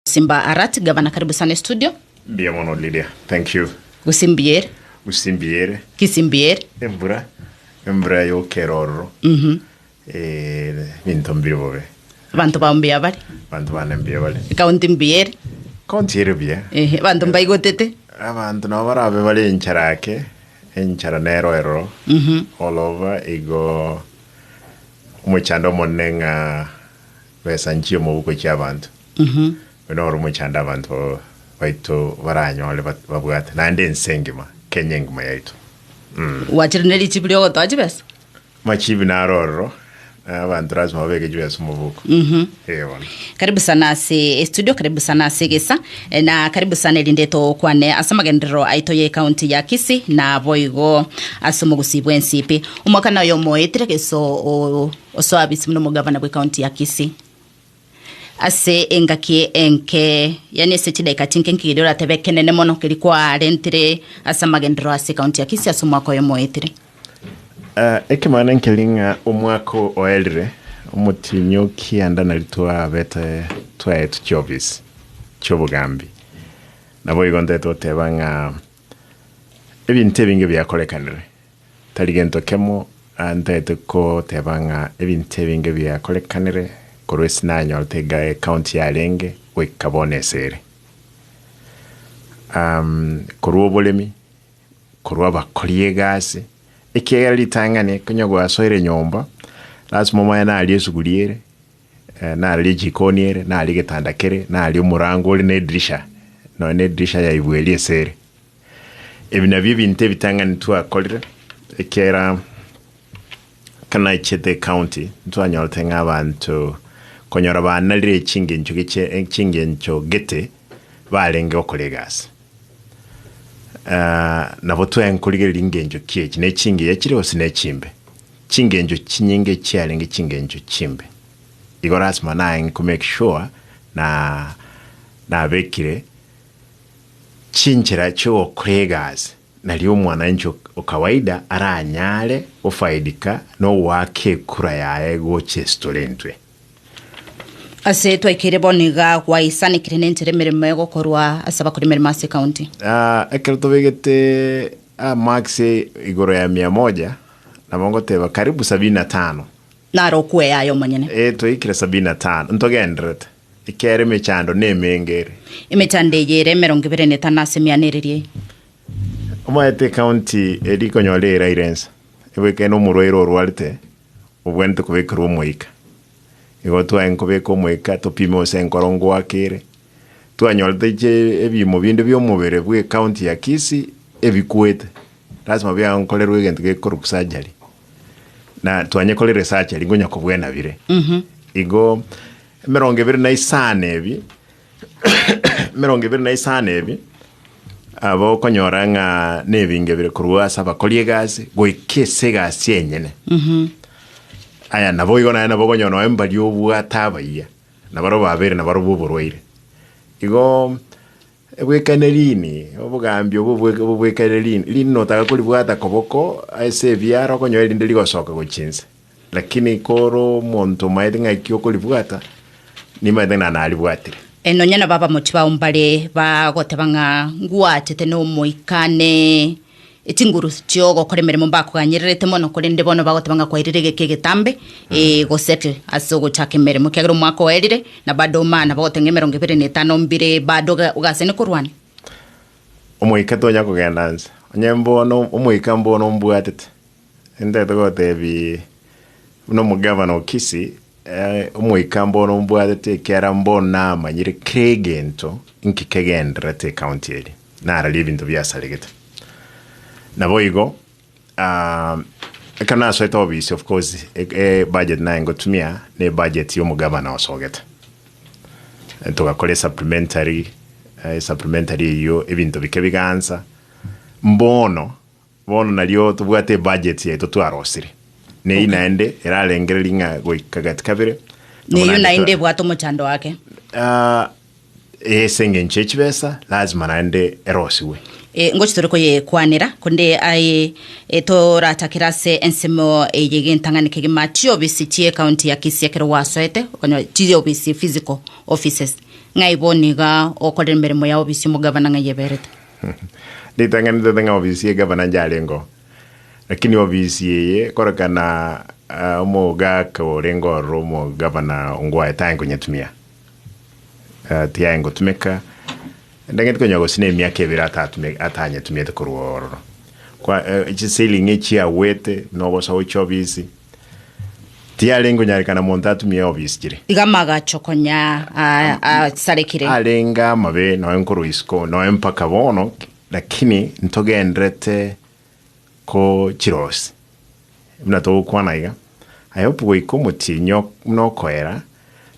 Simba Arati gavana karibu sana estudio. Mbuya mono Lydia. Thank you. Gusimbiere. Gusimbiere. Kisimbiere. Embura. Embura yokera ororo. Mhm. Eh, binto mbire bobe. Abanto bao mbuya bare. Abanto bane mbuya bare. Ekaunti mbuyaere. Kaunti ere buya. Ehe, abanto mbaigotete. Abanto nabo barabe bare enchara ake. Enchara nero eroro. Mhm. All over igo omochando omonene ng'a besa nchie omobuko chia abanto. Buna oro mochando abanto baito baranyore babwate, naende ense engima, Kenya engima yaito. Gwachire ne richibi riogotoa chibesa. Machibi naro ororo, na abanto lazima babeke chibesa omoboko. Eeh bono. Karibu sana ase estudio karibu sana ase egesa eh, na karibu sana erinde tokwane ase amagenderero aito ye county ya Kisii na boigo ase omogusii bw'ensipi omwaka naye omoetire gese o- o- osoa bisi buna omogavana bwe county ya Kisii. Ase engaki enke, yaani ase chidaeka chinke nki keria oratebe ekenene mono keria kwarentire ase amagenderero ase ekaunti ya Kisii ase omwaka oyo moetire? Ah, ekemana nkeri ng'a omwaka o- oerire omotienyi o kianda nari twabete twaetu chiofisi chiobogambi. Naboigo ntete oteba ng'a ebinto ebinge biakorekanire. Tari gento kemo ntaete koteba ng'a ebinto ebinge biakorekanire korwa ase nanyorete iga ekaunti yarenge goika bono ase ere. Korwa oboremi, korwa abakori egasi, ekiagera ritang'ani konya gwasoire nyomba lasima omanye naria esuguri ere, naria ejikoni ere, naria egetanda kere, naria omorango ore na edirisha, nonya na edirisha yaigwa eria ase ere. Ebi nabio ebinto ebitang'ani twakorire, ekiagera kanaichete ecounty ntwanyorete ng'a abanto konyora baanarire echingencho giche echingencho gete barenge gokora egasi. Ah, nabo twaenkorigereria ringencho ki echi, nechingiya chire gose nechimbe? Chingencho chinyinge chiarenge chingencho chimbe. Igo lasima naeng'e komake sure na nabekire Chinchera chi'ogokora egasi naria omwananchi o kawaida aranyare gofaidika nogoaka ekura yaye gocha esitorentwe. Ase twaikaire bono iga gwaisanekire nenchera emeremo egokorwa ase abakora emeremo ase county. Aa ekero tobegete aa marks igoro ya mia moja nabo ngoteba karibu sabini na tano. Naro okweyaya omonyene. Ee twaikire sabini na tano ntogenderete. Ekiagera emechando nemenge ere. Emechando eye ere emerongo ebere na etano ase emiana eriria eye. Omanyete ecounty eri ikonyora eiraire ensa, ebo ekeene omorwaire orwarete obwenerete kobekerwa omoika. Igo twaye nkobeka omoika topime gose enkoro ngoakere. Twanyorete che ebiimo binde bi'omobere bw'ecounty ya Kisii ebikwete. Lasima biaye nkorerwe egento gekorokwa surgery. Na twanyekore research aria ngonya kobwena bire. Igo emerongo ebere na isano ebi emerongo ebere na isano ebi aba okonyora ng'a nebinge bire korwa ase abakori egasi goika ase egasi enyene. Aya nabo igo naye nabo okonyora nonye mbari obwate abayia nabarabwo babere nabarobwo oborwaire. Igo Ebwekane riini, obogambi obwo obobwekane riini, riini notaka koribwata koboko ase ebiara okonyora erinde rigosoka gochia inse. Lakini kore omonto omaete ng'aki okoribwata, nimaete ng'a naribwatire. E, nonya nabo abamochi bao mbare bagoteba ng'a ngwachete n'Omoika, ne. Chinguru chi'ogokora emeremo mbakoganyererete mono, korende bono bagoteba ng'a kwairire egeka egetambe eh, gosettle ase ogochaka emeremo, ekiagera omwaka oerire na bado omana, bagoteba ng'a emerongo ebere na etano mbire bado oga- ogasene korwania. Omoika tonya kogenda nse, onye mbono omoika mbono ombwatete, Intete gotebi buna omogavana o Kisii, eh, omoika mbono mbwatete ekiara mbono namanyire kera egento inki kegendererete ecounty eri, nararia ebinto biasaregete. Naboigo, ah, ekero nasoete obisi of course, e- ebudget naye ngotumia, na ebudget ya omogavana osogete. Eh, togakora esupplementary, eh, esupplementary eyio ebinto bike bigaansa, mbono, Bono nario tobwate ebudget yaito twarosire. Neyio Okay. naende erarengereria ng'a goika gati kabere. amo Neyio naende naende twa- ebwate omochando ake. Ah, eh, ase engencho ye chibesa lazima naende erosigwe. E, ngochi tore koyekwanera konde aye e, toratakere ase ensemo eye egentang'ani kegima chiofisi chie county ya kisii ekero gwasoete okonyora chiofisi physical offices ng'ai bono iga okorera emeremo ya ofisi omogavana ng'ai eberete Ritang'ani tote ng'a ofisi ye gavana nje arengeo, lakini ofisi eye korokana omogaka orenge ororo omogavana ngwaye tae nkonyetumia. Tiaye ngotumeka, ndageti konya gose na emiaka ebere atatumi- atanyetumiete korwa ororo. Kwa- chisiling echia agwete nobosa gochia ofisi. Tiarenge onyarekana monto atumie eobisi chire. Iga amagacho konya a- asarekire. Arenge amabe noe nkorwa isiko noe mpaka bono, lakini ntogenderete ko chirosi. Buna togokwana iga, I hope goika omotienyi ok- buna okoera,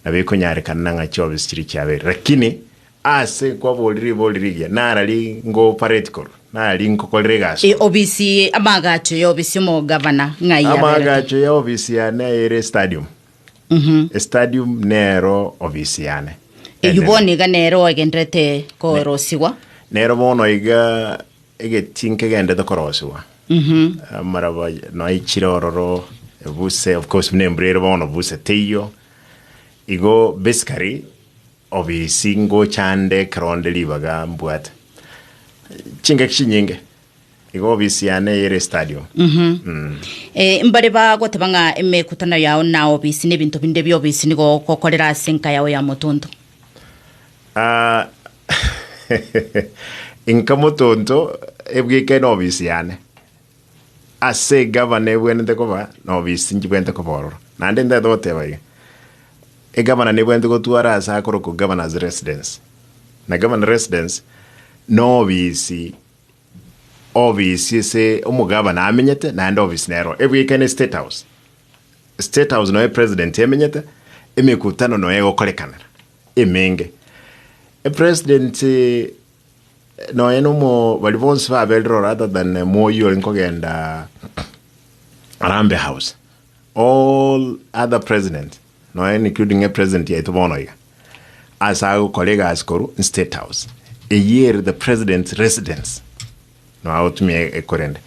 nabo ekonyarekana ng'a chiobisi chiria chiabeire. Lakini. Aase kwaboorire riboori riria, nara rinkopareti korwa, nara rinkokorera egaswa. Obisi y'amagacho y'obisi omogavana ng'ai yaberete? Amagacho y'obisi yane ere estadium. Estadium nero obisi yane. Eyio enene. bono iga nere oegenderete korosigwa. Nero bono iga egetii nkegenderete korosigwa. Amaraba noaichire ororo ebuse, of course buna embura ere bono buse teiyo. Igo basically Obisi ngochande ekero nde ribaga mbwate chingaki chinyinge igo obisi yane eyere stadio. Eh, mbare bagoteba ng'a emekutano yao na obisi na ebinto binde bia obisi nigo ogokorera ase enka yao ya motonto. Ah, inka motonto ebwekene obisi yane. Ase egavana ebwenerete koba noboisingi bwenerete koba ororo, naende ntagete goteba iga, egavana nebwenerete gotwara ase akorokwa governor's residence, na governor residence nobisi obisi ase omogavana amenyete naende obisi nero ebwekane state house. State house noyo president emenyete, emekutano noyo egokorekanera emenge. Epresident. Nonya nomo baria bonsi baberire ore rather than moyi ore nkogenda Harambee House. All other presidents, nonya including e president yaito bono iga, ase agokora egasi koru in State House. Eyio ere the president's residence. No agotumia e- ekorende.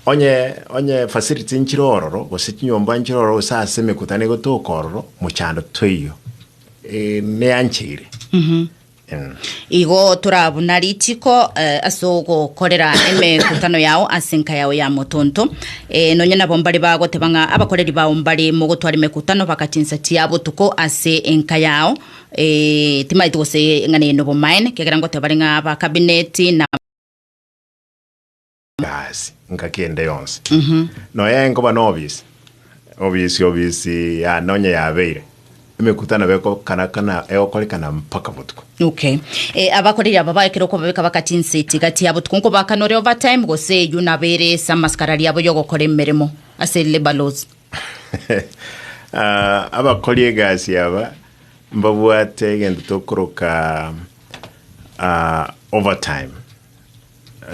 Onye onye facilities nchire ororo, gose chinyomba nchire ororo, gose ase emekutano egotoka ororo, mochando toiyo. Eh, neancheire. Igo toraa buna rituko ase ogokorera emekutano yao ase enka yao ya motonto. Ee, nonya nabo mbare bagoteba ng'a abakoreri bao mbare mogotwara emekutano baka chinsa chia botuko ase enka yao. Ee, timaeti gose ng'a neye nobomaene, ekiagera ngoteba bare ng'a aba kabineti na. Gasi engaki ende yonsi noyo enkoba nobisi obisi obisi ya nonye yabeire emekutano bekokana kana egokorekana mpaka botuko Okay. Eh, abakoreri aba baekire okobabeka bagati inse eti gati ya botuko nkobakanore overtime gose eywo nabere ase amasikara riabo yogokora emeremo ase labour laws. Ah, abakori egasi aba mbabwate egento tokoroka ah, overtime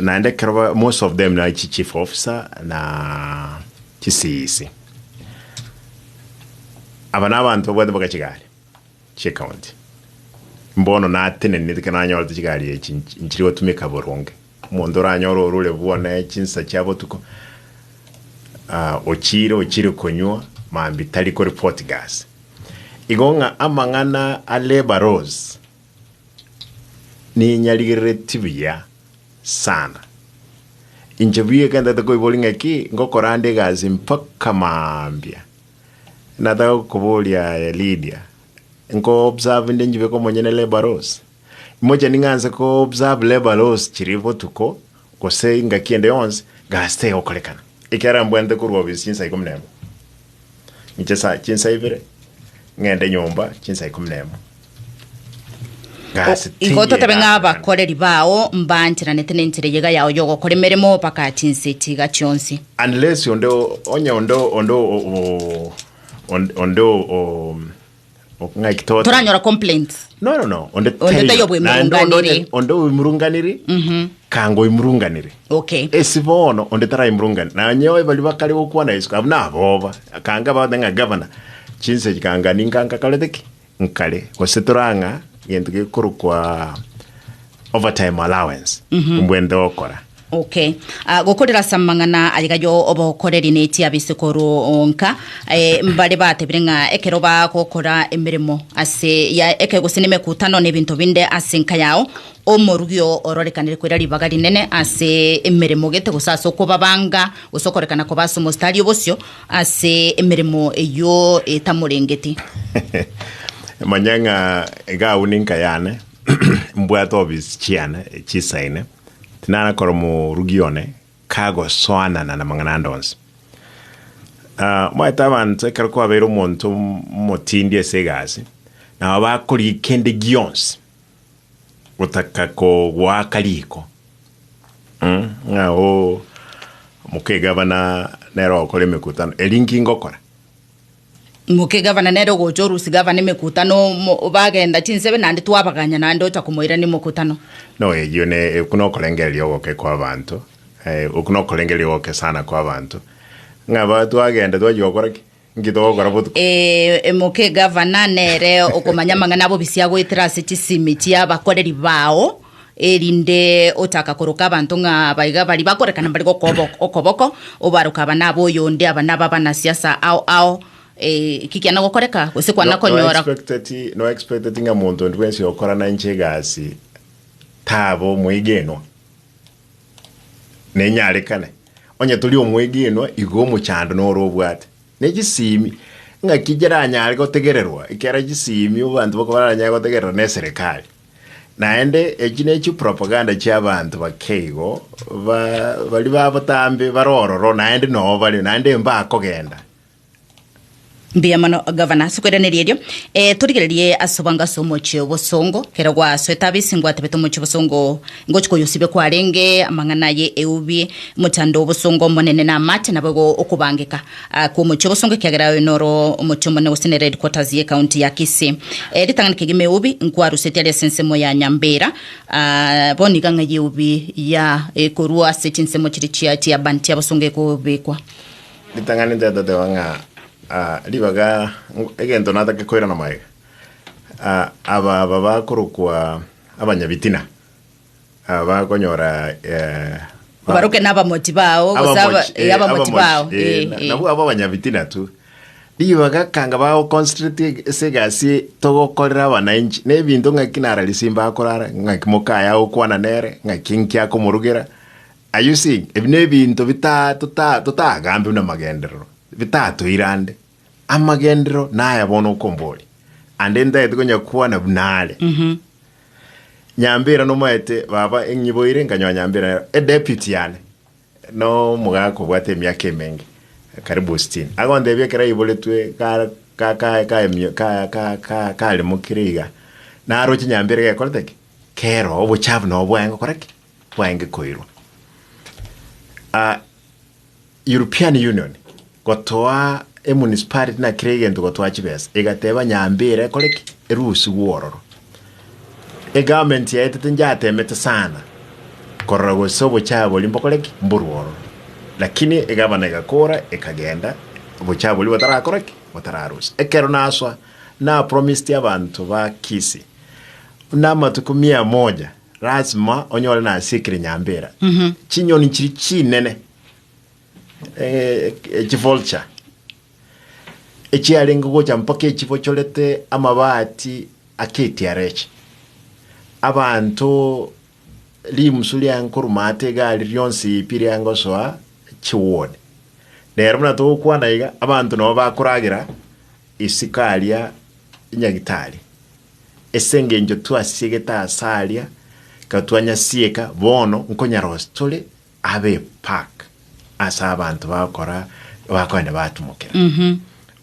Naende ekero ba, most of them nari chi chief officer na chisisi. Aba nabanto babwate mpaka chigari chie county. Mbono nateneneti ekero nanyorete chigari echi nchi- nchiri gotumeka boronge. Omonto oranyore orure bwane chinsa chia botuko, ah, ochire ochire konywa mambi tari koreport gasi. Igo ng'a amang'ana a labour laws, ninyarigereretie buya sana. Inche buya ekero ntagete koiboria ng'a ki, ngokora ande egasi mpaka mambia. Nataka gokoboria aye Lydia, nko-observe inde nchibeke omonyene labour laws? Imochani ng'a nse ko-observe labour laws chiria botuko, gose engaki ende yonsi, gasi tegokorekana, ekiagera mbwenerete korwa obisi chinsa ikomi na emo. Inche sa chinsa ibere, ng'ende nyomba chinsa ikomi na emo. O, Gasi igo totabe ng'a tigegakorekana. abakoreri bao mbaancheranete nenchera eyio iga yao y'ogokora emeremo baka chinsa echi iga chionsi. Unless onde o- onye onde o- onde o- o- onde- onde o- o- Ng'aki toto? toranyora complaints No, no, no. Onde Onde taiyo. taiyo bwe Naende onde murunganiri. onye- Onde oimurunganiri. Kanga oimurunganiri. okay esi bono onde taraimurungani nanye oe bari bakare gokwana yesu abu naboba kanga baote ng'a gavana chinse echi kanga ninka nkakarete ki nkare gose torang'a gento gekorokwa overtime allowance mbwende gokora Okay. Ah, gokorera ase amang'ana ayigayo obokoreri nechi abesekoro onka eh, mbare batebire ng'a ekero bagokora emeremo ase ya eke gose nemekutano nebinto binde ase nka yao omorugio ororekanire koira ribaga rinene ase emeremo gete gose ase okobabanga gose okorekana koba ase omostari obosio ase emeremo eyio etamorengeti manya ng'a iga abwo ninka yane mbwate obisi chiane chisaine Tinanakora morugi one kagosoanana namang'ana ande onsi. Omaete abanto ekero kwabeire omonto omotindi ase egasi, nabo bakorigia kende gionsi gotaka kogoaka riko, ng'a oo, omokegavana nere ogokora emekutano, eri inki ngokora? Ingoke gavana nere ogocha orusi gavana emekutano omo bagenda chinsebe naende twabaganya naende ocha komoirania omokutano. No eyio ne oku nokorengereria ogoke kwa abanto eh, oku nokorengereria ogoke sana kwa abanto ng'a ba twagenda twachia gokora ki? Nki togokora botuko? Eh, Ingoke gavana nere okomanya amang'ana abo bisiagoetera ase chisimi chiabakoreri bao. erinde ochaka koroka abanto ng'a aba iga baria bakorekana mbare gokoba ok- okoboko, obaroke aba naba oyonde, aba naba abanasiasa ao ao, eh, ki kiana gokoreka, gose kwana No- no konyora expecteti- no expecteti ng'a monto onde bwensi okorana inche egasi tabe omwegenwa, nenyarekane onye tori omwegenwa igo omochando noro obwate. Ne chisemi ng'aki chiranyare gotegererwa ekero chisemi abanto bako baranyare gotegerera na eserekari. Naende echi ne chipropaganda chi'abanto bake igo, ba, baria ba botambe bare ororo, naende noo bario, naende mbakogenda. Mbuya mono gavana ase okoiraneria erio. Eh, torigererie ase obwango ase omochie obosongo, ekero gwasoete abe ase ngwatebete omochie obosongo, ngochia koyosibia kwarenge, amang'ana aye eubi, mochando obosongo omonene na amache, nabo igo okobangeka. Aa kw'omochie ogosonga ekiagera oyo noro omochie omonene gose nere headquarters y'ecounty ya Kisii. Aa ritang'ani kegima eubi nkwaruseti are ase ensemo ya Nyambera. Aa bono iga ng'ai eubi ya ekorwa ase chinsemo chiria chia chiabani chi'abasonga ekobekwa. Ritang'ani ntetoteba ng'a aa ribaga nk egento natake koirana magega. Aa aba aba bakorokwa abanyabitina. Ah, bakonyora eh, ba- Obaroke n'abamochi bao, gose aba- abamochi, eh, eh, abamochi bao. abamochi, eh, Eh, na- eh. nabwo abo abanyabitina tu rigo bagakanga bagoconcentrate ase egasi togokorera abananchi na ebinto ng'aki nara risimba akorara ng'aki mokaya agokwana nere ng'aki nki akomorugera are you seeing ebi na ebinto bita- tota- totagambe buna amagenderero bitatoirande Amagenderero naya bono okombori, ande ntagete konya kwana buna are. Nyambera nomaete baba enyiboire nkanyoa nyambera nero e deputy yane no mogaka obwate emiaka emenge karibu sitini agontebia ekero aiboretwe ka ka ka ka emio- ka ka ka karemo kere iga naroche nyambera gekorete ki keroo obochafu nabo bwaye gokora ki bwaye gekoirwa Ah, European Union gotoa emunicipality na kera egento gotoa chibesa egateba nyambe ere ekore ki erusigwe ororo egovernment yaetete njatemete sana korora gose obochabori mbokore ki mborwe ororo lakini egavana egakora ekagenda obochabori botarakora ki botararusia ekero naswa napromised abanto ba Kisii namatuko mia moja Lasima onyore nasiekire nyambera chinyoni chiri chinene eh, echivulture echiarenge gocha mpaka echibochorete amabati aketiara echi abanto rimusu riange koruma ate egari rionsi pi riange gosoa chiwone rero buna togokwana iga abanto nabo bakoragera Isiko aria nyagitari, ase engencho twasiegete aase aria, ekero twanyasieka, bono nkonyarosia tore abe pack ase abanto bagokora, bakoenda batumokera.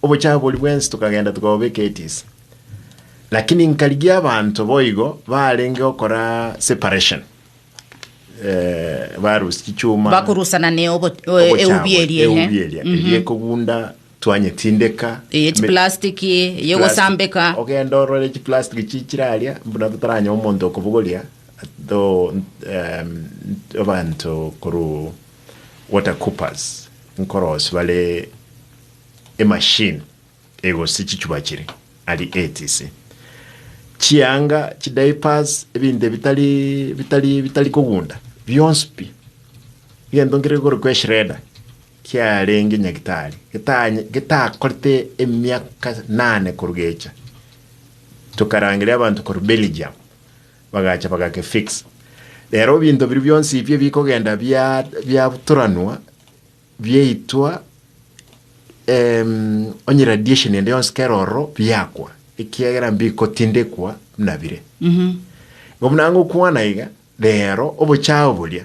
Obochafu boria bwensi tokagenda tokabobeka etisi. Lakini nkarigia abanto boigo barenge gokora separation, eh, barusie chichuma, Bakorusana ne obo- o- eubi obochafu, eria, ehe. eubi eria, eria ekogunda Twanyetindeka. Eye chiplastiki y'ogosambeka. Ogenda orore chiplastiki chichire aria buna totaranyore omonto okobogoria abanto korwa water coopers nkorosia bare emachine egosia chichupa chire aria etc. Chianga, chidiapers, ebinto ebitari kogunda bionsi pi egento nkere kore ko eshredder. Kiarenge nyagitari getanye getakorete emiaka nane korugecha tokarangeria abanto korwa Belgium bagacha bagake fix rero binto biria bionsi ebio bikogenda bia biaturanwa biaitwa ehm onye radiation ende yonsi kera ororo biakwa ekiagera mbikotindekwa buna bire. Igo buna ngokwana iga rero obochao boria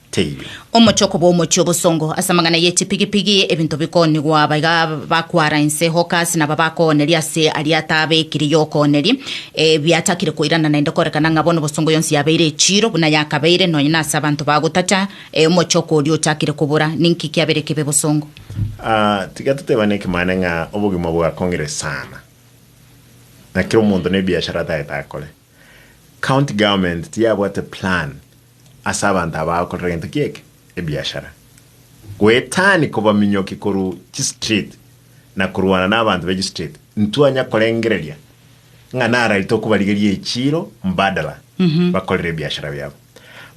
teibe. Omochoko bw'omochie obosongo ase amang'ana ye chipigipigi, ebinto bikoonigwa aba iga bakwara inse, hawkers, naba bakooneri ase aria atabekire y'okooneri, eh, biachakire koirana naende korekana ng'a bono obosongo yonsi yabeire echiiro buna yakabeire, nonya nase abanto bagotacha, eh, omochoko oria ochakire kobora. Ninki kiabere kebe bosongo? Ah, tiga totebane ekemane ng'a obogima bwakong'ire sana, na kera omonto nebiashara atagete akore. County government tiyabwate plan ase abanto aba agokorera egento ki'eke, ebiashara, goetania kobaminyokia korwa chistreet na korwana nabanto be chistreet, ntwanya korengereria ng'a nararete okobarigeria echiiro mbadala bakorere ebiashara biabo.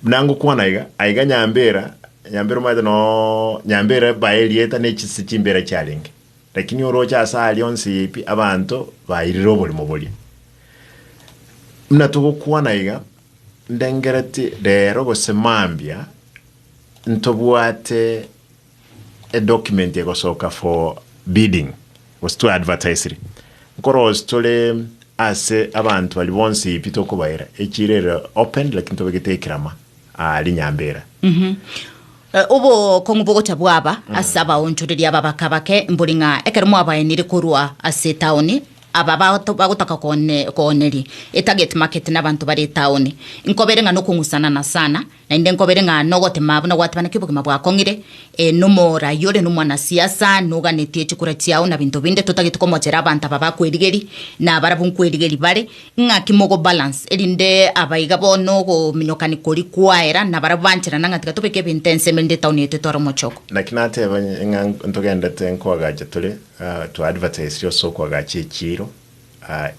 Buna ngokwana iga, aiga Nyambera, Nyambera omanyete noo Nyambera bae erieta ne chise chimbera chiarenge, lakini oroche ase aria onsi eye pi abanto bairire oborimo boria. Buna togokwana iga, Ndengereti rero gose mambia ntobwate e document egosoka for bidding gose twa advertisiri nkorosi tore ase abanto baria bonsi pi tokobaira echiro ere open lakini tobegete ekirama aa rinyambera. Obokong'u bogocha bwaba ase abaonchoreria aba baka bake mbori ng'a ekero mwabaenire korwa ase etaoni, aba bagotoka kooneria etageti maketi nabanto bare etaoni, nkobere ng'a nokong'usanana sana, naende nkobere ng'a nogotema buna gwatebaneti obogima bwakong'ire, ee, nomoraai ore nomwanasiasa, noganetie chikura chiao na binto binde, totagete komochera abanto aba bakwerigeria, nabarabwo nkwerigeria bare. Ing'aki mogobalance, erinde abaiga bono ogominyokania koria kwaera nabaria banchera, nang'a tiga tobeke ebinto ense ime rinde etaoni yaito etware omochoko. Naki nateba ng'a ntogendete nkoagacha tore, to advertise ria ase okoagacha echiiro,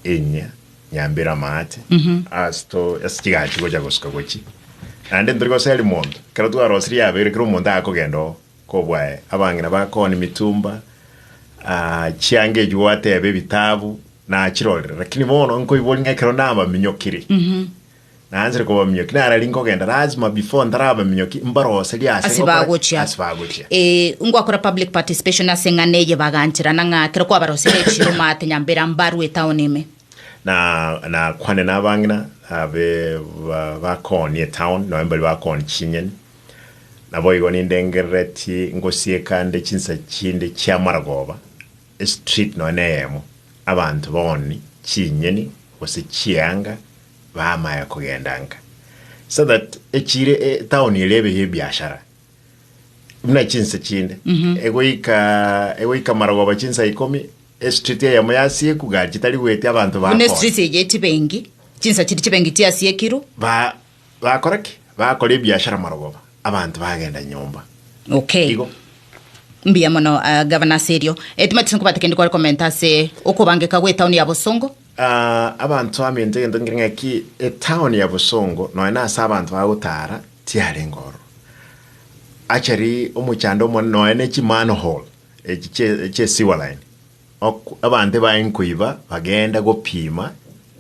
enyia, nyambera amaate, ase to ase chigachi gocha gosuka gochia. Naende ntori goseri monto, ekero twarosirie yabeire kera omonto agakogenda oo. Kobwaye, abang'ina bakoni mitumba, chianga echi gwateba ebitabu nachirorire, lakini bono nkoiboria ng'a ekero nabaminyokire, naanchire kobaminyokia, nara riria nkogenda lazima before ntarabaminyokia mbaroserie ase Ase gokora ki? bagochia. ase bagochia. Eh, ngwakora public participation ase eng'ana eye bagancherana ng'a ekero kwabarosirie echiro maate nyambera mbarue etown ime. na nakwane nabang'ina abe ba- bakoni etown, nonye mbari bakoni chinyeni. Naboigo nindengereretie ngosieka nde chinsa chinde chi'amarogoba, estreet nonya neyemo, abanto boni chinyeni gose chianga bamaya kogenda nka, so that echire etown eria ebe y'ebiashara buna chinsa chinde, egoika egoika amarogoba chinsa ikomi, estreet eyemo yasieku gari chitari goetia abanto Buna bakona. estreet eye chibengi, chinsa chiri chibengi chiasiekirwe. ba Bakora ki? Bakora ebiashara marogoba, abanto bagenda nyomba. Okay. Igo. Mbuya mono, ah, Gavana ase erio. Eh, timanyeti nkobate kende kware komenta ase okobangeka gw'etaoni ya Bosongo. Ah, abanto bamenta egento nkere ng'eki, etaoni ya Bosongo, nonya nase abanto bagotara, tiarenge ororo. Actually, omochando omonene, nonya ne chimanhole echi chie, chie sewer line, Ok, abanto baye nkoiba bageenda gopima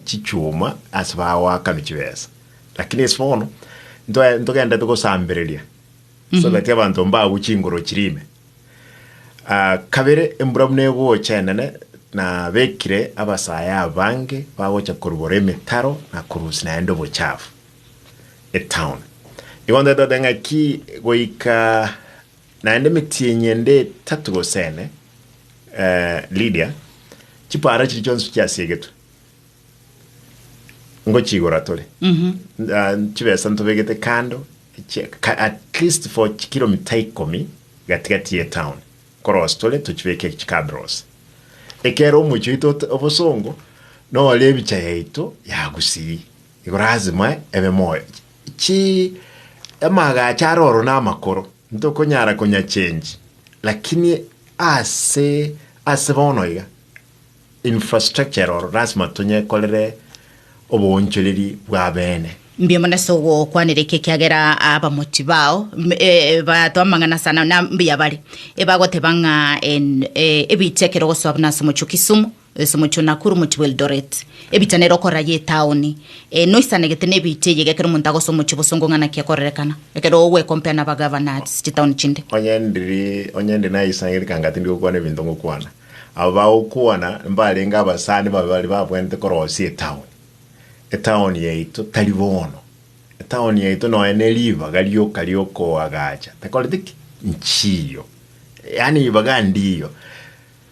chichuma ase bagoakanwa chibesa, lakini ase bono ntoe ntogenderete gosambereria so that abanto mbagwe chinguru chiria ime. Ah, kabere embura buna egocha enene, nabekire abasae abange bagocha korubora emetaro na korusia naende obochafu etown. Igo ntoete goteba ng'aki goika Naende emetienyi ende etato gose ene, eh, Lidia, chipaara chiria chionsi chiasiegetwe, ngochiigora tore, ah, chibesa ntobegete kando, chi- ka- at least for chikilomita ikomi gatigati ye town, korosi tore tochibeke chikabrosi. Ekero omochie oito ot- obosongo, nore ebicha yaito yagusii. Igo lazima ebe moyo. Chi, amaagacho are oro namakoro, ntokonyara konya change, lakini ase, ase bono iga, infrastructure ere oro lazima tonyekorere oboonchoreri bwa bene. Mbuya mono ase ogokwanera eke, ekiagera abamochi bao m- e- e- bato amang'ana sana na mbuya bare, ebagoteba ng'a en- e- ebiche ekero ogosoa buna ase omochie o Kisumu, Ase omochie o Nakuru, omochie bw'Eldoret, ebiita nere okorora y'etaoni eye noisanegete nebiita eyio iga ekero omonto agosa omochie bosongo ng'a naki akorerekana ekero ogwekompea naba governors chitaoni chinde. Onye ndiri onye ndi naisangerete kanga tindi gokwana ebinto ngokwana, aba bagokwana mbarenge abasani babe baria babwenerete korosia etaoni. Etaoni yaito tari bono. Etaoni yaito nonya ne ribaga rioka riokoagacha, takoreti ki? Nchiyo. Yaani ribaga ndiyo.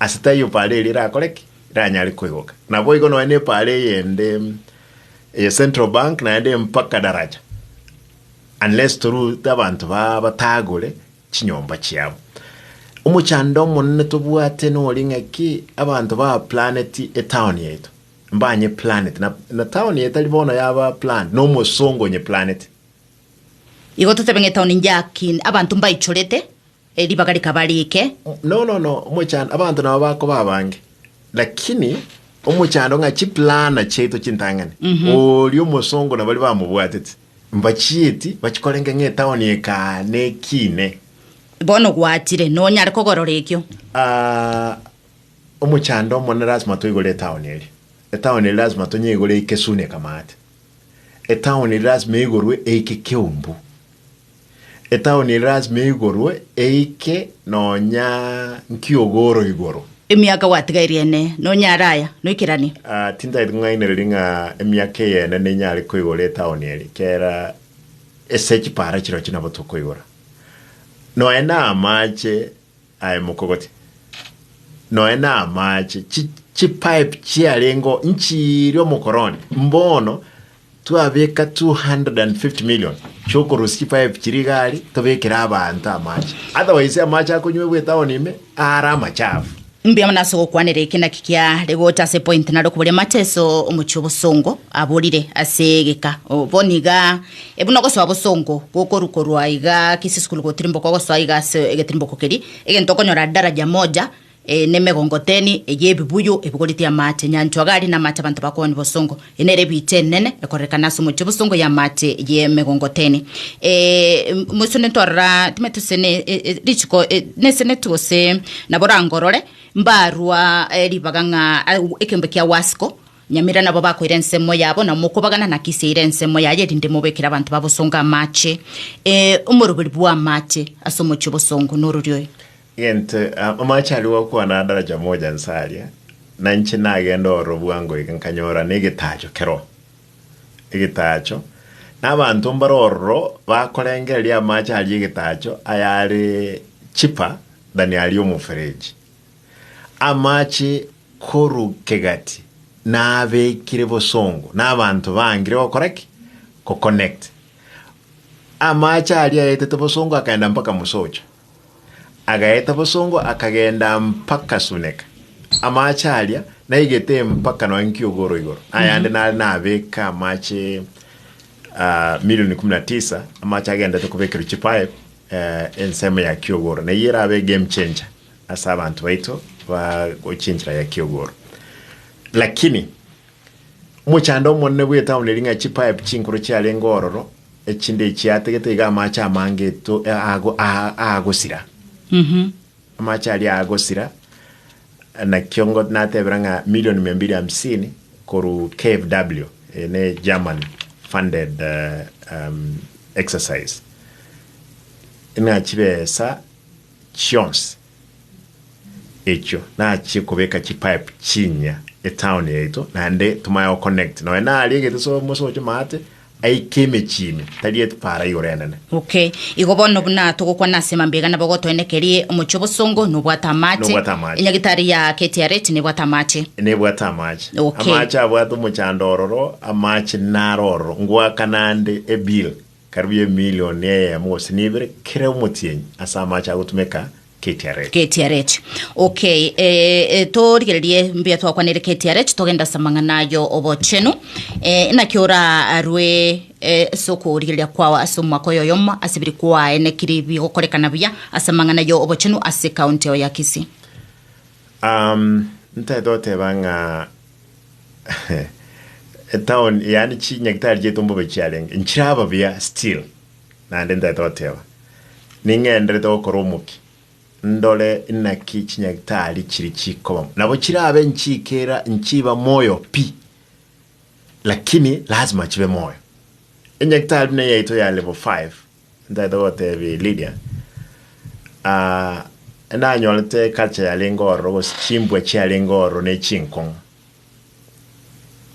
Ase taiyo paara eria erakore ki? Eranyare koigoka. Naboigo nonya ne paara eyende eye Central Bank naende mpaka Daraja unless torute abanto baa batagore chinyomba chiabo. Omochando omonene tobwate noria ng'a ki? Abanto ba planeti etown yaito. Mbanye planeti na na town eye tari bono yaba planned, na omosongo onye planeti. Igo totebe ng'a etown njaakin abanto mbaichorete. Eribaga rikaba riike. Nono nono omochando abanto nabo bakoba abange, lakini omochando ng'a chiplana chiaito chintang'ani, oria omosongo na baria bamobwateti mbachieti bachikorenge ng'a etaoni ekaane ekiine. Bono gwachire, nonyare kogorora ekio. Aa, omochando omone lasima toigore etaoni eria. Etaoni eria lasima tonyeigore eike soon ekamaate. Etaoni eria lasima eigorwe eike keumbu. Etaoni eria lasima eigorwe, eike nonya nkiogoro igoro. Emiaka gwatigairie ene, nonyare aya, noikeranie. Ah, tintagete ng'ainererie ng'a emiaka eyene nenyare koigora etaoni eria, ekiagera ase chipara chirochio nabo tokoigora. Nonya na amache. Aye mokogoti, noe namaache, chi chipipe chiarengeo nchiire omokoroni, mbono twabeka 250 million chiokorusia chipipe chiria igari tobekere abanto amaache, otherwise amaache akonywegwa etown ime aare amachafu. Mbuya mono ase ogokwanera eke naki kiare gocha ase point naro koboria mateso omochie obosongo aborire ase egeka. Obo niga Ebu nogosoa bosongo gokorwa korwa iga kisisukuru gotirimboka ogosoa iga ase egetirimboko keria, egento okonyora daraja moja eh, nemegongo teni eye ebibuyu ebigoreti amache, enyanchwa gari namache abanto bakooni bosongo. Eye nere ebiicha enene ekorerekana ase omochie bosongo y'amache y'emegongo teni. Eh, m- moisone ntorora time tose ne e- e- richiko e- nesenetu gose nabo orangorore mbarwa eh, ribaga ng'a au- ekembe kia wasiko, Nyamera nabo bakoira ensemo yabo, na mokobagana naki ase eira ensemo yaye, erinde mobeekere abanto babosongo amaache, ee, omorebori bw'amaache ase omochie obosongo nororio oyo. Egento amaache aria gwakwana adaraja moja nse aria, na inche nagenda ororo bwango iga nkanyora negetaacho keroo. Egetaacho, na abanto mbare ororo bakorengereria amaache aria egetaacho, ayare cheaper than aria omofereji. Amache korwa kegati nabekire bosongo na abanto bangire gokora ki? Go connect. Amache aria aetete bosongo akagenda mpaka Musocho. Agaeta bosongo akagenda mpaka Suneka. Amache aria naigete mpaka nonya Nkiogoro igoro. Ayande nare nabeka amache ah, milioni kumi na tisa amache agendete kobekerwa chipipe eh, ensemo ya Kiogoro. Neyio erabe game changer. Ase abanto baito ba gochinchera ya kiogoro. Lakini omochando omonene bw'etauni eria ng'a chipipe chinkoro chiarenge ororo, echinde echio ategete iga amache amange eto aago aa aagosira. Amache aria aagosira, nakio ngo natebera ng'a million mia mbili hamsini korwa KFW, eye ne German funded um, exercise. Ng'a chibesa chionsi echio nachie kobeka chipipe chinya etown yaito naende tomaye go connect nonya naria egete so mosoche maate aike emechie ime tari epara igoro enene. Okay. Igo bono buna togokwana ase mambega nabo gotoenekerie, omochie obosongo nobwate amache. Nobwate amache. Enyagitari ya KTRH nebwate amache. Nebwate amache. Okay. Amache abwate omochando ororo, amache naro ororo, ngoaka naende ebill. Karibu emilion eyemo gose nebere kera omotienyi ase amache agotumeka KTRH. KTRH. Ok, eh, torigererie mbuya twakwanire KTRH, togenda ase amang'ana ayo obochenu. Eh, naki orarwe eh, ase okorigereria kwao ase omwaka oyo oyomo ase biri kwae neki ri- bigokorekana buya ase amang'ana ayo obochenu ase county eo ya Kisii. Um, ntaete goteba ng'a Etown yaani chi nyagitari chiaito mbobe chiarenge nchiraba buya still naende ntaete goteba ning'enderete gokora omokia ndore inaki chinyagitari chiri chikoba nabo chirabe nchikera nchiba moyo pi lakini lazima chibe moyo. Enyagitari buna eyaito ya level five Ntaete gotebia Lydia, Aah, nanyorete eculture yarenge ororo, gose chimbwa chiarenge ororo ne chinkong'u.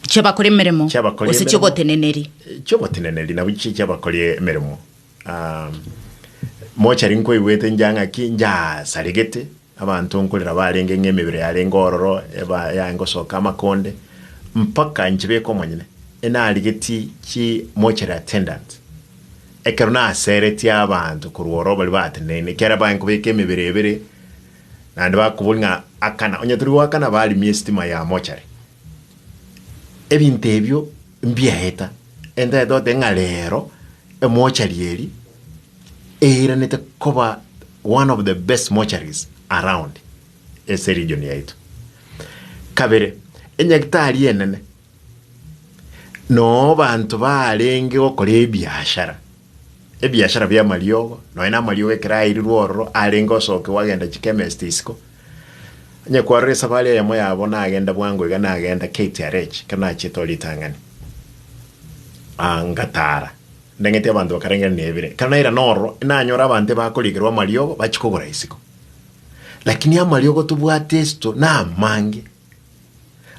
Chiabakora emeremo Chiabakora gose emeremo. chiogoteneneri. chioboteneneri nabwo chi- chiabakori emeremo Ah, mochari nkoigwete nja ng'aki njasaregete abanto nkorera barenge ng'a emebere yarenge ororo eba yaye ngosoka amakonde mpaka nchibeka omonyene enarigeti chi mortuary attendant Ekero naseretie abanto korwa ororo baria bateneine, kiagera baye nkobeka emebere ebere, naende bakobori ng'a akana, onye tori goakana barimie esitima ya mochari. Ebinto ebio mbiaeta, entagete goteba ng'a rero emochari eri eiranete koba one of the best mocharies around ase region yaito. Kabere, enyagitari enene. Noo abanto baarenge gokora ebiashara, ebiashara bi'amariogo, nonya na amariogo ekero airirwe ororo arenge osokigwa agenda chichemist isiko, onye kwarora esafari eyemo yabo nagenda bwango iga nagenda KTRH ekero nachiete oo ritang'ani, ngatara ndeng'eti abanto bakarengera nebire. Ekero nairana ororo nanyore abanto bakorigerwa amariogo bachia kogora isiko. Lakini amariogo tobwate esito namange.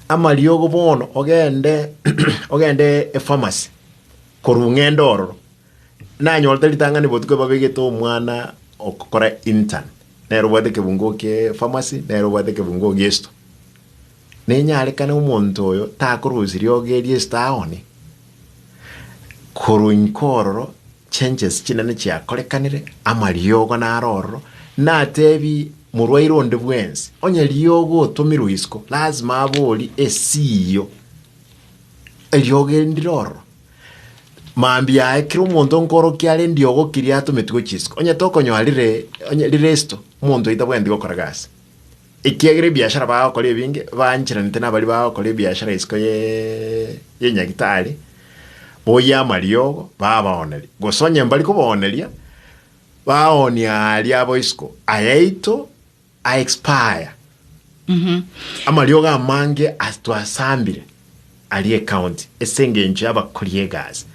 amariogo bono ogende ogende efamasi korwa ng'ende ororo nanyorete ritang'ani botuko babegete omwana okora intern nere obwate ekebungo kie efamasi nere obwate ekebungo giesito. Nenyarekane omonto oyo takorosiria oge riesito aone Korwa inko ororo chenches chinene chiakorekanire, amariogo naro ororo, nateebie morwaire onde bwensi, onye riogo otomirwe isiko, lazima abori esiio, eriogo eri ndire ororo. Mambia aye kera omonto nkoorokia are ndiogo kiria atometigwe chisiko, onye tokonyora rire onye rire esito, omonto oyo tabwenereti gokora gasi. Ekiagera ebiashara bagokora ebinge baancheranete nabaria bagokora ebiashara isiko ye yenyagitari, boyia amariogo babaoneria, gose onye mbari kobaoneria baonia aria abo isiko ayaito a expire. Amariogo amange as twasambire aria ecounty ase engencho y'abakori egasi.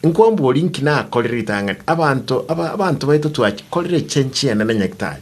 Nkombori nki nakorire ritang'ani, abanto aba abanto baito twakorire chenchi enene nyagitari.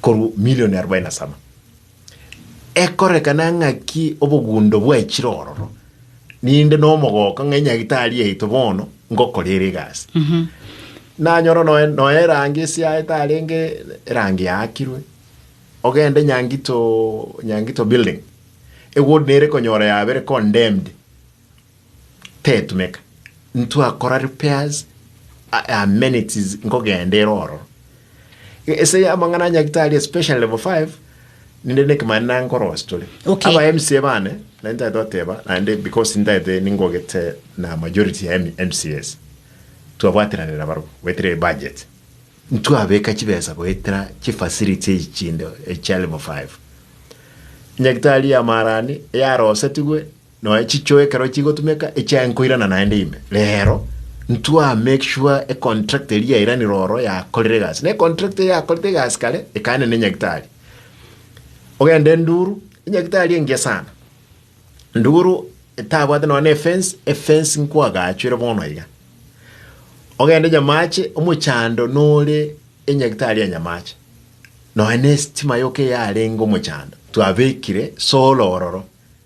korwa milioni arobaini na saba. Ekorekana ng'aki obogundo bwaechire ororo, ninde nomogooko ng'a enyagitari yaito bono ngokora ere egasi. Nanyora noe noe erangi esiaye tarenge erangi yaakirwe, ogende Nyangito Nyangito building, ewood nere konyora yabere condemned. tetumeka, ntwakora repairs, a- amenities nkogenda ere ororo. E- Ase ya amang'ana a Nyagetari especially level 5 ninde nekemani nankorosia tore. Okay. Aba MCA bane nari ntagete goteba naende because ntagete ningogete na majority ya M- MCAs twabwateranera barabwo goetera ebudget ntwabeka chibesa goetera chifacility echi chinde echia level 5 Nyagetari ya Maarani yarosetigwe Nonya chichoo ekero chigotumeka echiaye nkoirana naende ime. Rero ntwa make sure econtract eria yairanire oro yakorire egasi. Ne contract eye yakorete egasi kare ekaania ne nyagitari. Ogende nduru, enyagitari engiya sana. Nduru etabwate nonya ne fence, efence nkwagaachwere bono iga. Ogende nyamache, omochando nore enyagitari ya nyamache. Nonya ne estima yoka eyarenge omochando twabekire solar ororo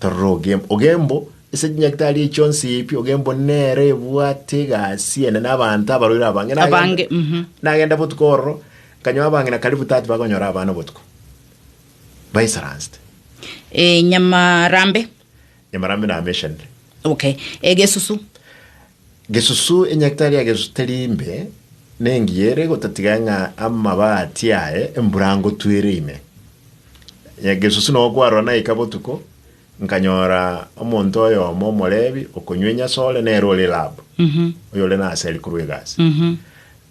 Torora Ogembo. Ogembo, ase chinyaktari echi chionsi ebi, Ogembo nere ebwate egasi ene na abanto abaroire abange. Nagenda- Abange, mhm. Nagenda botuko ororo, nkanyoa abange na karibu 30 bakonyora abana obotuko. Baisaransete. Eh, Nyamarambe. Nyamarambe nameshanire. Okay. Egesusu. Gesusu, Enyagitari ya Gesusu teri imbe, nengiya ere gotatiga ng'a amabati aye mburangotwere ime? Gesusu, Nao kwarora naika botuko, nkanyora omonto oyomo Omolevi okonywa enyaso ore nere ore Rabu, oyore naseri korwa egasi.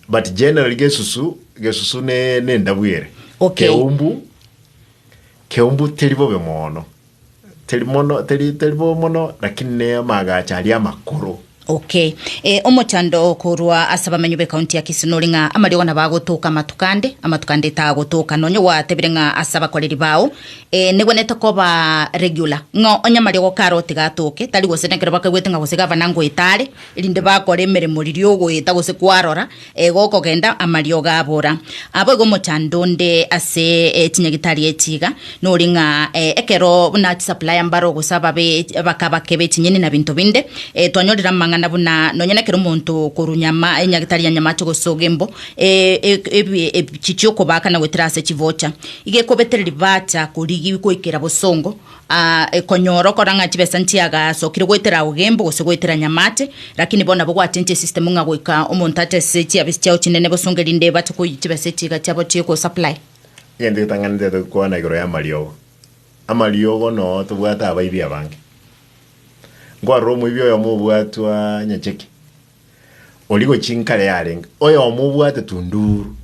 But generally Gesusu, Gesusu ne nendabwere, Okay. Keumbu, Keumbu teri bobe mono. Teri mono, teri, teri bo mono, lakini n'amagacho aria amakoro. Okay. Eh, omochando korwa ase abamenyo b'ekaunti ya Kisumu nore ng'a amariogo nabo agotoka amatuko ande, amatuko ande tagotoka. Nonye gwatebire ng'a ase abakoreri bao eh, negwenerete koba regular, ng'a onye amariogo kare otiga atoke, tari gose nekero bakaigwete ng'a gose gavana ngoeta are, erinde bakore emeremo riria ogoeta gose kwarora, Igo okogenda amariogo abora. Abwo igo omochando onde ase eh, chinyagitari echi iga, nori ng'a eh, ekero buna chisapulaya mbaro gose ababe bakabakeba echinyeni na binto binde, eh, twanyorire amang'ana buna nonya nekero omonto okorwa nyama, enyagitari ya nyamache gose ogembo, eh, eh, ebi- ebi- chichia okobaka na goetera ase chivocha. Iga ekobetereri bacha korigi goikera bosongo, Aa, ekonyora okora ng'a chibesa nchiagasokire goetera ao gembo gose goetera nyamate, lakini bono nabo gwachenchire esistemu ng'a goika omonto atese chiafisi chiao chinene bosonge rinde ebache koyia chibesa echi iga chiabo chikosupply. Egento getang'anete tokwana igoro y'amariogo, amariogo noo tobwate abaibi abange. Nkwarora omoibi oyomo obwatwa nyacheke. origo chinkare yarenge, oyomo obwate tunduru,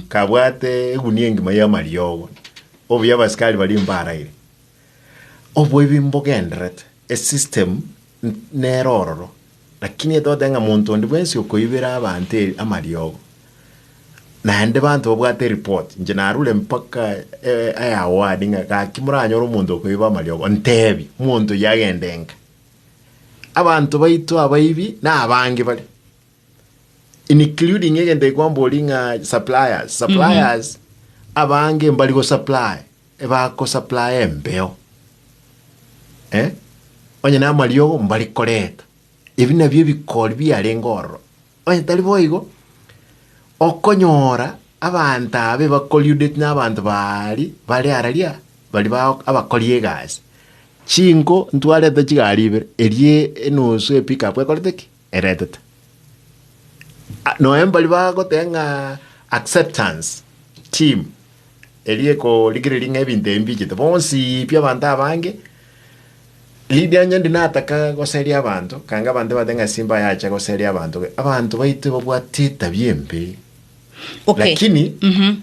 kabwate egunia engima y'amariogo, obuya abasikari baria mbaraire. Obwo ebi mbogenderete, esystem n- nere ororo, lakini etogote ng'a monto onde bwensi okoibera abanto e- amariogo, naende banto babwate eripoti, inche narure mpaka e- eaward ng'a gaki moranyore omonto okoiba amariogo, ntebi, monto oyio agende enka. Abanto baito abaibi nabange bare including egento gekwambori ng'a suppliers suppliers abange mbari gosupply ebakosupply embeo eh? onye namariogo mbari koreta ebi nabio ebikori biarenge ororo Onye tari boigo, okonyora abanto abe bakoriudeti na abanto baari bare araria baria ba abakori egasi. Chinko ntwarete chigari ibere, eria enusu e pick-up ekorete ki? Eretete. Noe mbaria bagoteba ng'a acceptance team. erieko rigereria ng'a ebinto ebi mbiichete bonsi pi abanto abange, Lidia onye ndi nataka goseria abanto, kanga abanto ebate ng'a simba yacha goseria abanto, abanto baito babwate etabia embe, Okay. lakini Mhm.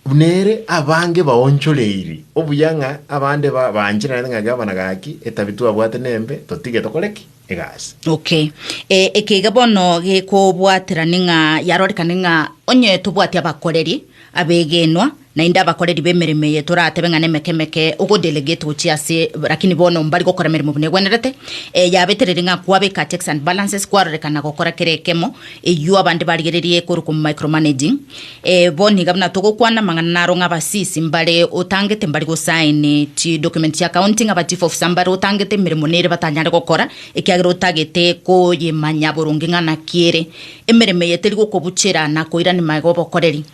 buna ere abange baonchoreiri obuya ng'a abande ba- baanchererete ng'a gavana gaki, etabia twabwate nembe, totige tokore ki? egasi. Okay. E, eke iga bono gekobwaterani ng'a yarorekane ng'a onye tobwati abakoreri abegenwa naende abakoreri b'emeremo eye toratebe ng'a nemeke emeke ogodelegate gochia ase lakini bono mbari gokora emeremo buna egwenerete e, yabetereri ng'a kwabeka checks and balances kwarorekana gokora kera ekemo eywo abande barigererie korokwa mu micromanaging Ee, bo niga buna togokwana amang'ana naro ng'a abasisi mbare otangete mbari gosaini chidocument chia county ng'a abachief officer mbare otangete emeremo nere batanyare gokora ekiagera otagete koyemanya boronge ng'a naki ere emeremo eye teri gokobuchera na koirani magega obokoreri.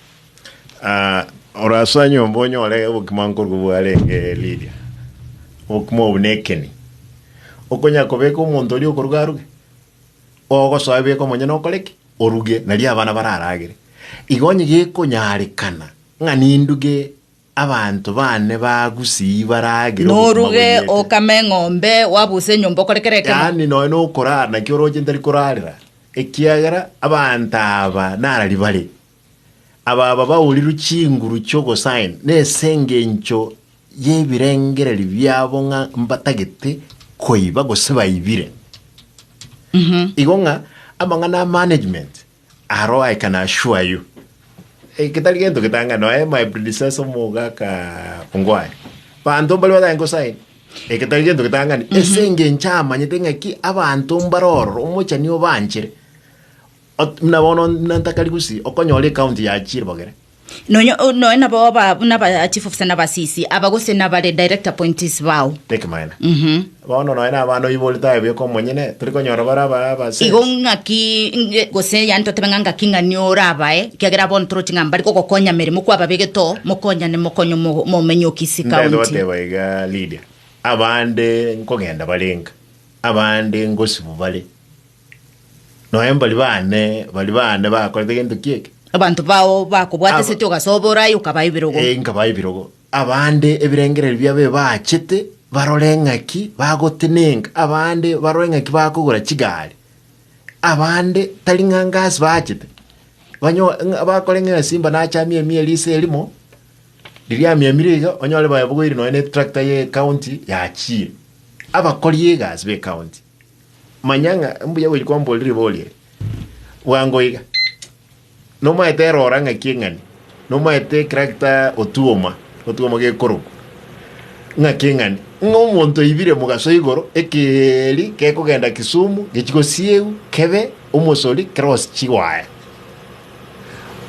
Ah, orase nyomba onyore obokima nkorwa bwarenge Lydia. Obokima obo nekeni. Okonya kobeka omonto oria okoruga aruge. Ogosoa beka omonyene okore ki? Oruge, nario abana bararagere. Iga onye gekonyarekana ng'a ninduge abanto bane ba Gusii baragere obogima Noruge boriete. okame eng'ombe, wabuse enyomba okore kera ekemo. Yaani nonya nokorara naki oroche ntari korarera, ekiagera abanto aba narari bare, Ababa baorirwe chinguru chi'ogosaina nesengencho y'ebirengererio biabo ng'a mbatagete koiba gose baibire. Igo ng'a amang'ana a management aro I can assure you eh, getari gento getang'ani noe my predecessor omogaka Ongwae banto mbare batagete gosaina eh, getari gento getang'ani esengencho amanyete ng'aki abanto mbare ororo omochani obanchere Ot- Muna bono nantakari gose okonyora ekaunti ya chiribogere. Nonya o- noe nabo aba buna ba chief officer na ba CC aba gose nabare direct appointees bao. Tekimaene. Mhm. Bono noe na abana oiborete aye bweka omonyene, tori konyora bare aba aba sense. Igo ng'aki nge- gose yani totebe ng'a ng'aki ng'ani orabae ekiagera abwo ntoroti ng'a mbari gogokonya meremo kwababegete oo mokonyane mokonye omo- omomenye o Kisii Ndenda county. goteba iga Lydia, abande nkogenda bare nka, abande ngosibu bare. Nonya mbari baane, baria baane bakorete gento ki eke? Abanto bao bakobwata Aba- eseti ogasobora aye okabaa ebirogo. Eh, nkabaa ebirogo. Abande ebirengererio biabo ebaachete barore ng'aki bagotenenka, abande barore ng'aki bakogora chigari, abande tari ng'a ngasi baachete, banyo- ng'a- bakore ng'a esimba nacha amiamie risa erimo, riria amiamire iga, onyore baye bogoire nonya na etrakta ya ecounty yachire. Abakori egasi ba ecounty. Manya ng'a mbuya gochia kwamborera riborio eri bwango iga. Nomaete erora ng'aki eng'ani, nomaete ekirakita otuoma, otuoma gekorokwa ng'aki eng'ani, ng'a omonto oibire mogaso igoro, ekeeri gekogenda Kisumu gechie gosiegwa kebe omosori kere gose chiwaya.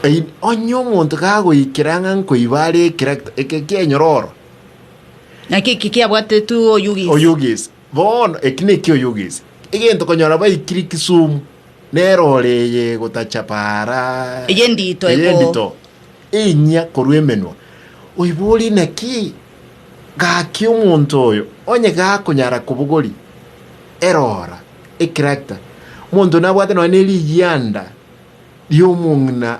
Ei- Onye omonto gagoikera ng'a nkoiba are ekirakita, eke kiaenyora oro, Naki eki kiabwatetwe oyugisi. oyugisi Bono eki nekio oyogese egento konyora baikire Kisumu nero ore eye gotacha para. Eye ndito eye eko. ndito enyia korwa emenwa oiborie naki gaki omonto oyo onye gakonyara kobogori erora ekirakta monto nabwate nonya ne rigianda riomong'ina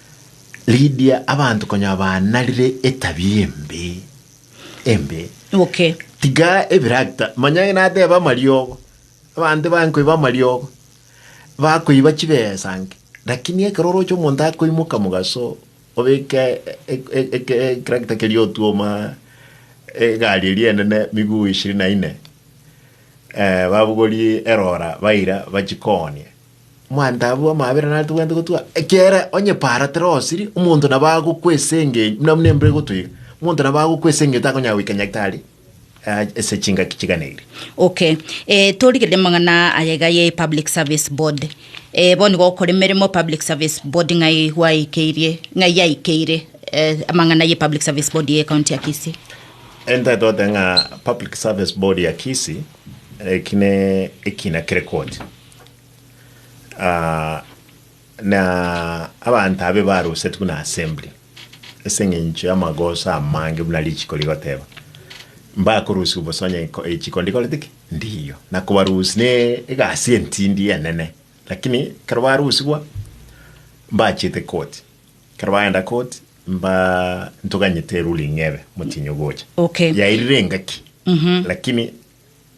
Ridia abanto konya banarire etabia embe embe. Okay. Tiga ebiragita manya ng'a nateba amariogo abanto bankoiba amariogo bakoiba chibesa nke lakini ekero oroche omonto akoimoka mogaso obeke e- e- eke- ekiragita keria otuoma egari eria enene miguu ishirini na ine eh, babogorie erora baira bachikoonie Omwanto abwo bw'amabera nare tobwenerete gotugwa, ekiagera onye para tera osiri, omonto nabo agokwesenge- buna buna embura egotwa iga, omonto nabo agokwesengete akonyara goika nyagetari aa ase chingaki chigana eria. Okay, eh, torigereria amang'ana aya iga ye Public Service Board. Eh, bono igo ogokora emeremo Public Service Board ng'ai gwaikeirie, ng'ai yaikeire eh, amang'ana ye Public Service Board ye County ya Kisii? Ntagete goteba ng'a Public Service Board ya Kisii, eki ne ekina kere koti. Ah, na abanto abe barusetwe na assembly ase eng'encho y'amagoso amange buna richiko rigoteba, mbakorusigwa bosa onye ko- echiko ndikorete ki ndiyo, na kobarusia ne egasi entindi enene. Lakini ekero barusigwa mbachiete koti, ekero bagenda koti mba ntoganyete eruling ebe motienyi ogocha Okay. yairire engaki lakini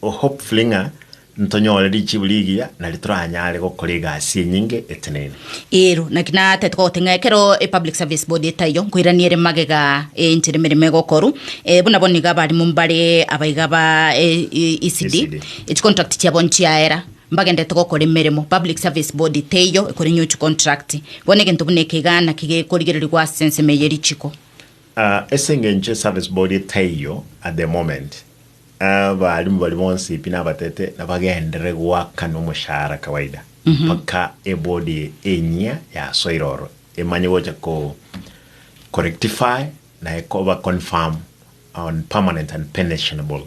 O hopefully ng'a ntonyore richibu rigiya nario toranyare gokora egasi enyinge etenene. Ero, naki natete gogote ng'a ekero e Public Service Board etaiyo, nkoirania ere magega e enchera emeremo egokorwa, eh, buna bono iga abarimo mbare abaiga ba e- e- ECD, ECD. echicontract chiabo nchiaera, mbagenderete gokora emeremo, Public Service Board teiyo ekore new chicontract. Bono egento buna eke igaa naki gekorigererigwa ase ensemo eye ye richiko. Ah, ase engencho e Service Board etaiyo at the moment, Abaalimu baria bonsi, pi nabatete, nabagenderere goaka nomoshahara kawaida, mpaka ebodi enyia yasoire oro emanye gocha ko korectify na ekoba confirm on permanent and pensionable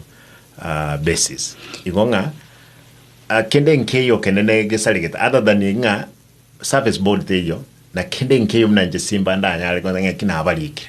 basis. Igo ng'a kende nkeiyo kende negesaregete other than ng'a service board teiyo, na kende nkeiyo buna inche simba ndanyare kogenda ng'a ki nabarikire.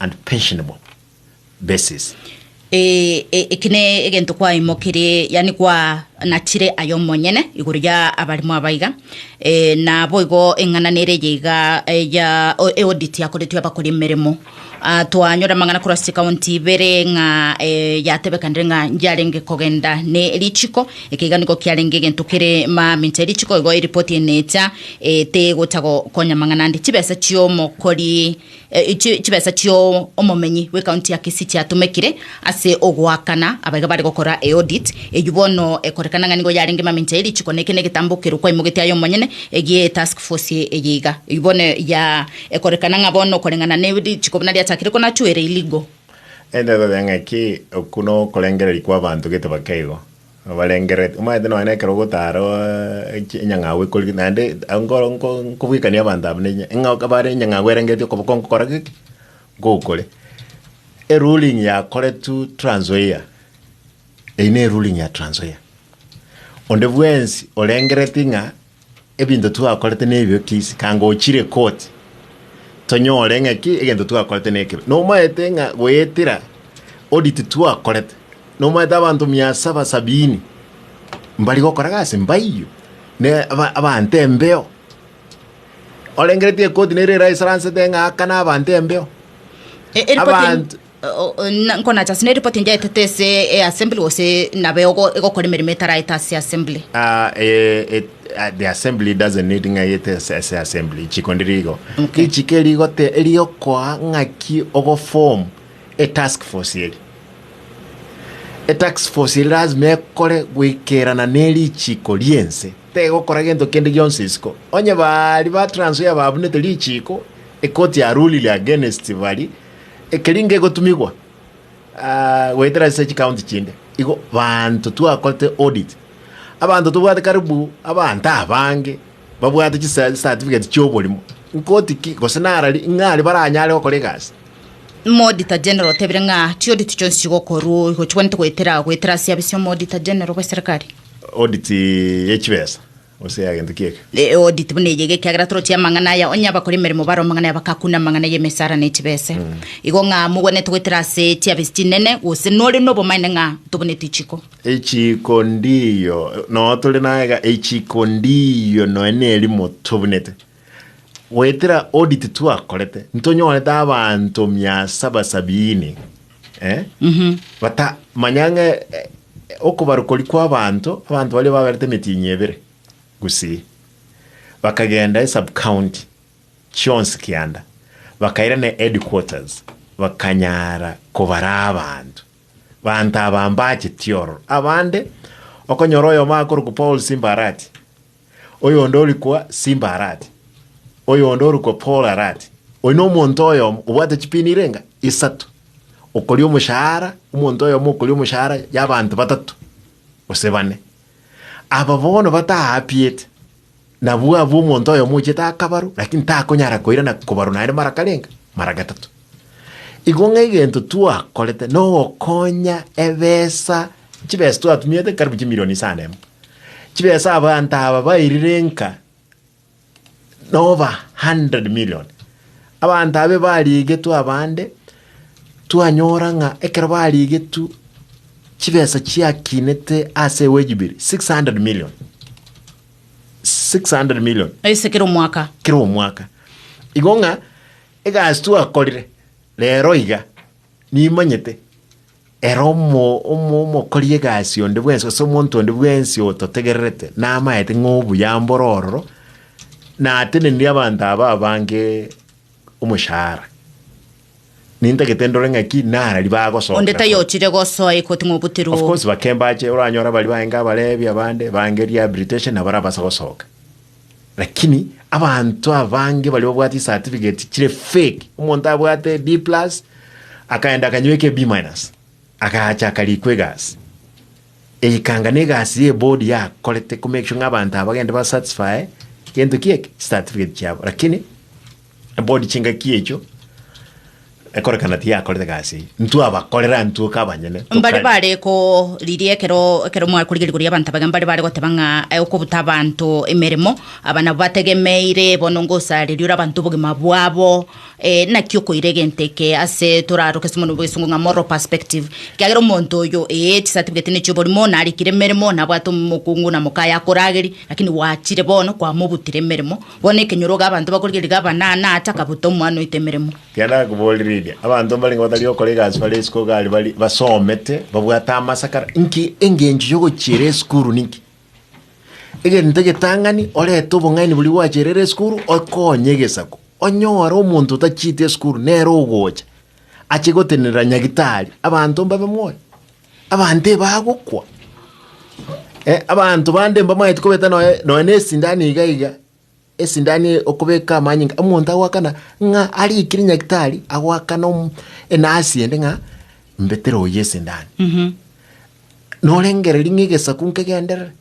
and pensionable basis. Ee, e- eki ne egento kwaimokirie, yani kwanachire aye omonyene igoro ya abarimo abaiga, ee, na boigo eng'ana nere eye iga eh, ya o- eaudit yakoretwe abakori emeremo. Ah, twanyora amang'ana korwa ase chikaunti ibere ng'a eh, yatebekanire ng'a yarenge kogenda ne richiko, eke iga nigo kiarenge egento kere mamincha erichiko igo eripoti ene echa eh, tegocha gokonya amang'ana ande. Chibesa chiomokori Chibesa chi'omomenyi bw'ecounty ya Kisii chiatomekire ase ogoakana abaiga bare gokora eaudit eyio bono ekorekana ng'a nigo yarenge mamincha ye richiko na eke negetambo keru kwaimogetie aye omonyene egie etask force eye iga. Eyio bono ya ekorekana ng'a bono koreng'ana ne richiko buna riachakire konachuere iligo. Ere ndatoteba ng'aki, okwo nokorengereria kw'abanto gete baka igo. Obarengereti, omanyete nonya nekero ogotara enyang'au ekori, naende nkobwekania abanto aba ne bare enyang'au erengereti okoboko nkokora geki, ngokore. Eruling yakoretwe Trans Nzoia, eyio neruling ya Trans Nzoia. Onde bwensi orengereti ng'a. Ebinto twakorete nebibe kiisi, kanga ochire koti tonyore ng'aki egento twakorete nekebe. Nomaete ng'a goetera odi titwakorete, nomaete abanto mia saba sabini mbari gokora gasi mbaiyo, ne aba- abanto embeo. Orengeretie ekoti nere eraisaransete ng'a aka nabanto embeo. E- eripoti en- Abanto- Nkonacha ase neripoti enyaetete ase easembli gose nabe ogokora emeremo etaraete ase easembli? The assembly doesn't need ng'aete ase assembly chiko ndiri igo okay. Richiko erigote eriokoa ng'aki ogoform etask force eri etask force eri lazima ekore goikerana nerichiko riense tegokora gento kende gionsi isiko onye bari ba Trans Nzoia babunete richiko ekoti yarulire against bari Ekeri ngegotumigwa goetera ase chikaunti chinde, igo baanto twakorete audit, abanto tobwate karibu abanto abange babwate chisatifigeti chi'oborimo, nkoti ki gose nara ri ng'a aria baranyare gokora egasi. Omouditor General otebire ng'a chiaudit chionsi chigokorwa igo chigwenerete goetera goetera ase ebiabe sia Omouditor General bw'eserekari. Audit ye chibesa Gose y'egento ki'eke. Eodi tibu neyige ekiagera toroche amang'ana aya, onye abakora emeremo bare omong'ana aya bakakune amang'ana y'emesara ne chibese. Igo ng'a mogwenerete goetera ase chiabesi chinene, gose nore nobomaene ng'a tobuneti ichiko? Echiiko ndiyo noyo tore naye iga, echiiko ndiyo noyo nerimo tobunete. Goetera audit twakorete, ntonyorete abanto mia saba sabiini eh, bata manya ng'a eh, okobarukori kw'abanto, abanto baria baberete emitinyi ebere gusii, bakagenda esub county chionsi kianda, bakairana headquarters, bakanyara kobara abanto. Banto aba mbacheti ororo, abande okonyora oyomo akorokwa Paul Simbarati, oyonde orikwa Simba arati, oyonde orikwa Paul arati, oyo nomonto oyomo obwate chipini irenga isato, okoria omoshahara, omonto oyomo okoria omoshahara y'abanto batato gose bane. Aba bono bataapiete, nabwo abwo omonto oyomo ochete akabarwa, lakini takonyara koirana kobarwa naende mara karenga, mara gatato. Igo ng'egento twakorete nogokonya ebesa, chibesa twatumiete karibu chimilioni isano emo, chibesa abanto aba bairire nka noba hundred million. Abanto aba barigetwe abande, twanyora ng'a ekero barigetwe chibesa chiakinete ase ewejubiri six hundred million, six hundred million. Ase kera omwaka. Kera omwaka. Igo ng'a Egasi twakorire rero iga nimanyete, ere omokori egasi onde bwensi, gose omonto onde bwensi ototegererete, namaete ng'a obuya mbore ororo, natenenirie abanto aba abange omoshahara. Nintagete ndore ng'a ki nara ribagosoka na koba. Onde tayochire gosoa egoti ng'a obuterwe Of oo. course bakembache, oranyore baria baye nkabarebia abande, bange rehabilitation nabo arabase gosoka. Lakini abanto abange baria babwate certificate chire fake, omonto abwate B plus akaenda akanywa eke B minus agacha akarikwa egasi eikanga na egasi ye board yakorete ku make sure ng'a abanto aba bagende ba satisfy gento kieke certificate chiabo lakini Board chingaki echo ekorekana tiyakorete egasi eye, intwe abakorera intwe ka abanyene Mbare tokare. bare koriria ekero ekero mwakorigeri koria abanto abage mbare bare goteba ng'a eh, okobuta abanto emeremo aba nabo bategemeire bono ngosareria ore abanto obogima bwabo eh, naki okoira egento eke ase toraroke ase omonwe bwa egesungu ng'a moral perspective ekiagera omonto oyo eh, chisatifiketi ne chioborimo narikire emeremo nabwate omokungu na mokaye akorageri lakini gwachire bono kwamobutire emeremo. Bono ekenyoroga abanto bakorigerigera abanana ata akabuta omwana oetemeremo. Ekiagera nakoborereria, abanto mbarenge batari gokora egasi bare isiko iga aria bari basomete, babwate amasakara. Inki engencho y'ogochiera esukuru ninki? Egento getang'ani orete obong'aini boria gwachierire esukuru okonye egesaku. Onyore omonto otachieti esukuru nere ogocha ache gotenenera nyagitari abanto mbabe moyo. Abanto ebagokwa, eh, abanto bande mbamaeti kobeta nonya nonya na esindani iga iga, esindani eye okobeka amanyinga, omonto agoakana ng'a arikire nyagitari, agoakana om- enasi ende ng'a mbetere oyo esindani. Norengereria ng'a egesaku nkegenderere.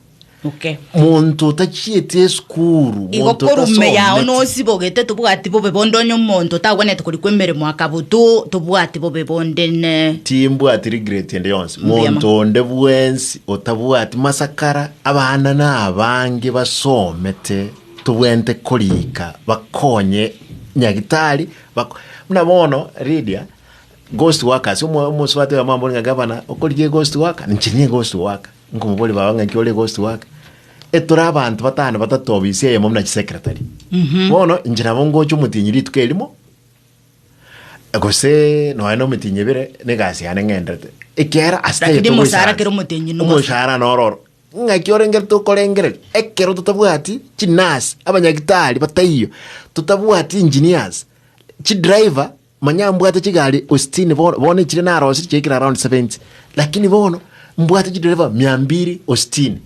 moke. Monto otachieti esukuru, Igo monto korwa ime yao otasometi. nosibogete tobwati bobe bonde onye omonto otagwenerete korikwa emeremo akabotwo tobwati bobe bonde ne Timbwati regret ende yonsi. Mbuya mono. Monto onde bwensi otabwati masakara, abana nabange basomete, tobwenerete korika bakonye nyagitari, bako- buna bono Lydia, ghost workers, omo- omosubati oyo amambore ng'a gavana, okorigia eghost worker? Inche niye eghost worker. Nkomoboria baba ng'a inki ore ghost work? E tore abanto batano batato obisi eyemo buna chisecretary. Bono inche nabo ngocha omotienyi rituko erimo, gose nonya na omitinyi ebere, na egasi yane ng'enderete. Ekiagera ase Lakini taiyo omosara togoisaransa. kera omotienyi nigo Omoshahara noro oro. Ng'aki orengerete okorengereria, ekero totabwati chinurse, abanyagitari bataiyo, totabwati engineers, chidriver, Manya mbwate chigari ositini bono, bono echiria narosirie chiaikire around seventy, lakini bono mbwate chidereva mia mbiri ositini.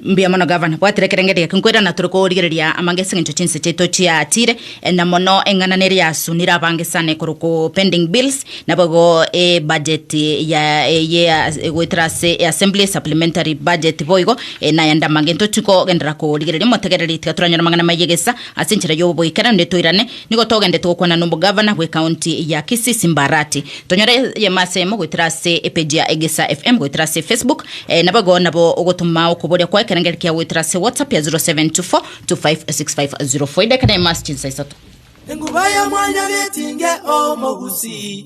Mbuya mono gavana, bwatera ekerenge eria kinkwera na tore korigereria amanga ase engencho chinse chiaito chiaatire, eh, na mono eng'ana neria yasunire abange sana ekoroku pending bills, nabo igo ebudget ya eye as- egoetera ase eassembly supplementary budget boigo, eh, nayande amanga intotikogenderera korigereria motegereri tiga toranyore amang'ana maye gesa ase enchera yoboikera, nde toirane Nigo togendete gokwana nomogavana bw'ecounty ya Kisii Simbarati. Tonyore eyemo aseyemo goetera ase epage ya Egesa FM goetera ase Facebook, eh, nabo igo nabo ogotoma okoboria kwao ekerengeri kiao goetera ase WhatsApp ya 0724256504 edaika neyemo ase chinsa isato. Enguba ya mwanyabietinge o mogusi.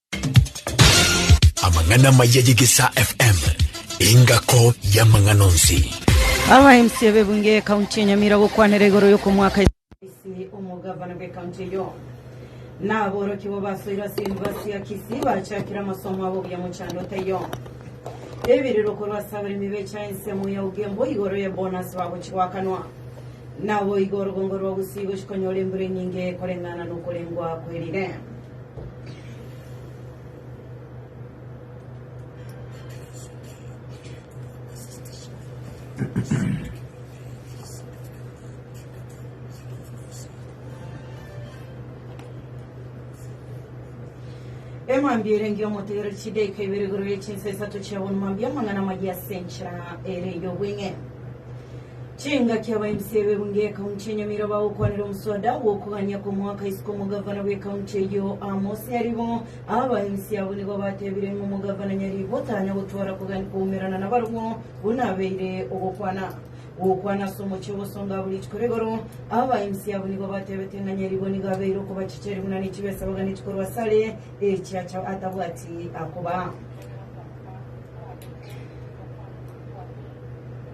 Amang'ana maya y'Egesaa FM, engako y'amang'ana onsi. Aba MC b'ebunge y'ekaunti ya Nyamira gokwanera igoro y'okomoaka Kisii omogavana bw'ekaunti eyo na aborokigwa basoirwe ase University ya Kisii bachakire amasomo abo buya mochando otaiyo ebiriro korwa ase abaremi becha ensemo ya Ugembo igoro ye bonus bagochigoakanwa naboigo orugongo rwa Gusii gochikonyora embura enyinge koreng'ana nokorengwa kwerire Emambia ere engiya omotegereri chidaika ibere igoro ye chinsa isato chiabonwa mambia amang'ana amayia ase enchera ere ey'obweng'e. Chingaki abainse ebebungo y'ekaunti ya Nyamira bagokwanera omosoda bw'okogania kw'omwaka isiko omogavana bw'ekaunti eyio Amos Nyaribo. Abainse abwo nigo batebire ng'a omogavana Nyaribo tanya gotwara kogania kw'ogomerana nabarabwo buna abeire ogokwana gw'okwana ase omochie ogosonga abwo rituko rigoro. Abainse abwo nigo batebete ng'a Nyaribo nigo abeire okobachicha ere buna nechibesa baganeti korwa ase are echi acha atabwati akobaa.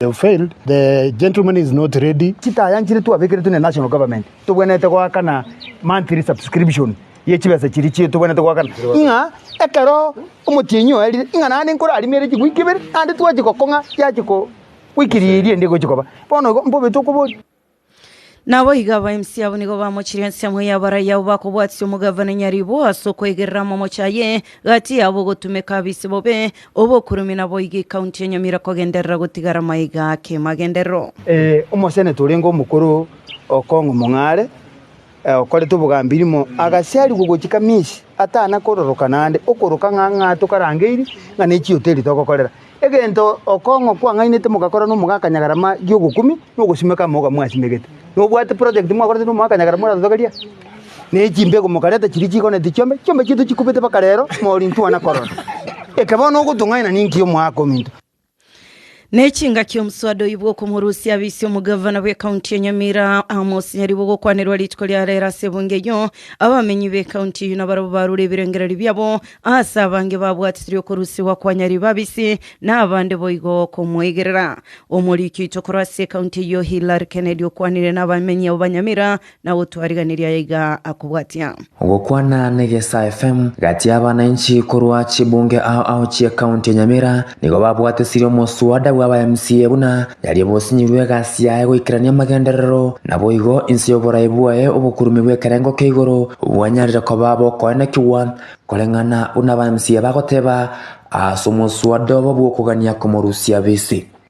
You failed. The gentleman is not ready. chitaya nchire twabekeretwe ne national government tobwenerete goakana monthly subscription ye chibesa chiri chie tobwenerete goakana ng'a ekero omotienyi oerire ng'a naende nkorarimere chigwiki ibere naende twachigokong'a yachiko goikiria eria ende egochikoba bono igo mbobete okobori Naboigo abaimisi abo nigo bamochirie ensemo ya abarai abo bakobwatisia omogavana nyaribo ase okoigerera amamocho aye gati yabo ogotumeka abise bobe obokurume naboigo ekaunti ya Nyamira kogenderera gotigara maiga kemagenderero. Ee, omoseneta orenge omokoro o Kong'u Mong'are. okorete obogambi rimo agasiarigwa ogochika misie atana kororoka naende okoroka ng'a ng'a tokarangeirie ng'a ne chihoteli togokorera. Egento okong'o kwang'ainete mogakora na omogaka Nyagarama gi'ogokumia na ogosimeka amoga mwasimegete. Nobwate project mwakorete na omogaka Nyagarama oratotogeria? Na echimbegu mokareta chiria chigoneti chiombe, chiombe chiaito chikubete mpaka rero, mori ntwana korora. Eke bono ogotong'aina ninki omoaka ominto? Nechingaki omoswada oibwa okomorusia abisi omogavana bw'ekaunti ya Nyamira Amos Nyaribo gokwanerwa rituko ria rero ase ebunge eyio abamenyi b'ekaunti eyio nabarabwo barure ebirengererio biabo ase abange babwatirie okorusigwa kwa Nyaribo abisi na abande boigo komoigerera. Omoriki oito korwa ase ekaunti eyio Hillary Kennedy okwanire nabamenyi abo ba Nyamira Na gotwariganiria aya iga akobwatia. Ogokwana na Egesa FM, gati y'abanainchi korwa chibunge ao ao chie county ya Nyamira nigo babwatisirie omoswada bw'aba MCA buna yaria obosinyirwe egasi yaye goikerania amagenderero naboigo inse y'oborayi bwaye obokurume bw'ekerengo kia igoro bwanyarire koba bokoenekigwa koreng'ana buna aba MCA bagoteba ase omoswada obo bw'okogania komorusia bise.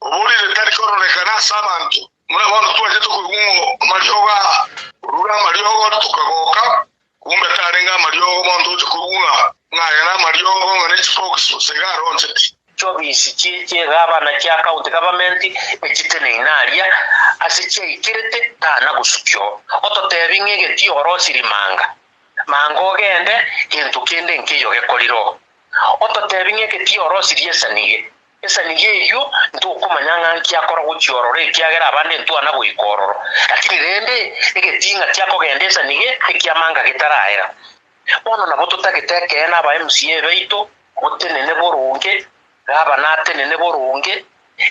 Oborire tari kororekana ase abanto. Buna bono twachete koigwa amariogo aa, orure amariogo ore tokagoka, kombe tarenge amariogo bono toche koigwa ng'a aya namariogo ng'a ne chibokisi gose iga aronchete. Chiobisi chie chiegabana chia county government echiteneine aria ase chiaikirete tana gosukio ototebi ng'a egetio orosiri manga manga ogende gento kende nkeiyo gekorire oo ototebi ng'a egetio orosirie esanige Inse nigo eyio ntokomanya ng'a nki akora gochia ororo, ekiagera abande ntwana goika ororo. Lakini rende, egetinga kia kogenda inse nigo ekiamanga getaraera. Bono nabo totagete ekeene aba MCA baito, botenene boronge, gavana atenene boronge,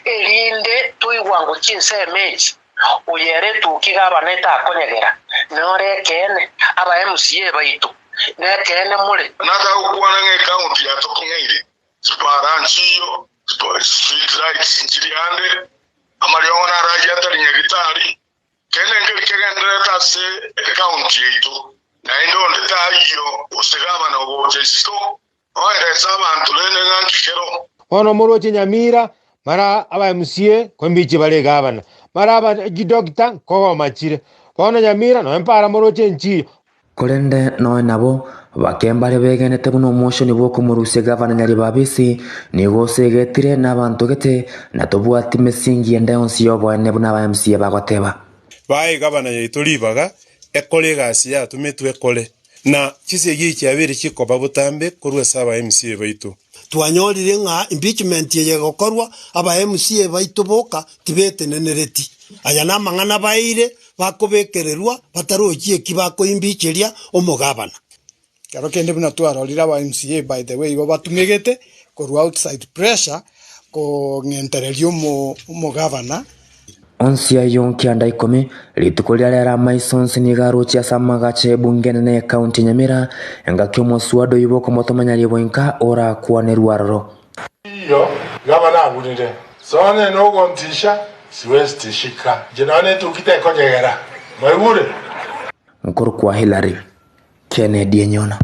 erinde toigwa ngo chinsemo echi, oyo ere etoki gavana etakonyegera, nore ekeene, aba MCA baito, nekeene more. Natagokwana ng'a ekaunti yatokong'eire, Chipara nchiyo, street lights nchiri ande, amariogo narayie atari nyagetari, kende nkeri kegendererete ase ecounty yaito, naende onde tayio gose gavana ogocha isiko oeresa abanto rende ng'aki kero. Bono omorochi Nyamira mara aba MCA kombichi bare egavana mara aba ejidoctor nkogoma chire. Bono Nyamira noyo mpara moroche enchiyo Korende noe nabo, bake mbare begenete buna omochenu bw'okomorusia egavana Nyaribabisi, nigo osegetire na abanto gete, na tobwati mesingi yende yonsi y'oboenene buna aba MC bagoteba. Baa egavana yaito ribaga ekore egasi yatumetwe ekore, na chisegi chiabeire chikoba botambe korwa ase aba MC baito. Twanyorire ng'a impeachment eye egokorwa, aba MC baito boka tibetenenereti. Aya namang'ana baeire bakobekererwa batarochi eki bakoimbicheria omogabana. Ekero kende buna twarorire aba MC by the way igo batumegete korwa outside pressure kong'entereria omogabana. Onsi ayio kianda ikomi, rituko riria riare amaiso onsi nigo aroche ase amagacho ebunge enene y'ekaunti ya Nyamira, engaki omoswado oibo okomotomanya ribo inka orakwanerwe aroro. Iyo gavana agurire, Sonya ino ogontisha, siwest shika inche nonya netuki tekonyegera. Mwaigure? Nkorokwa Hillary Kennedy enyona.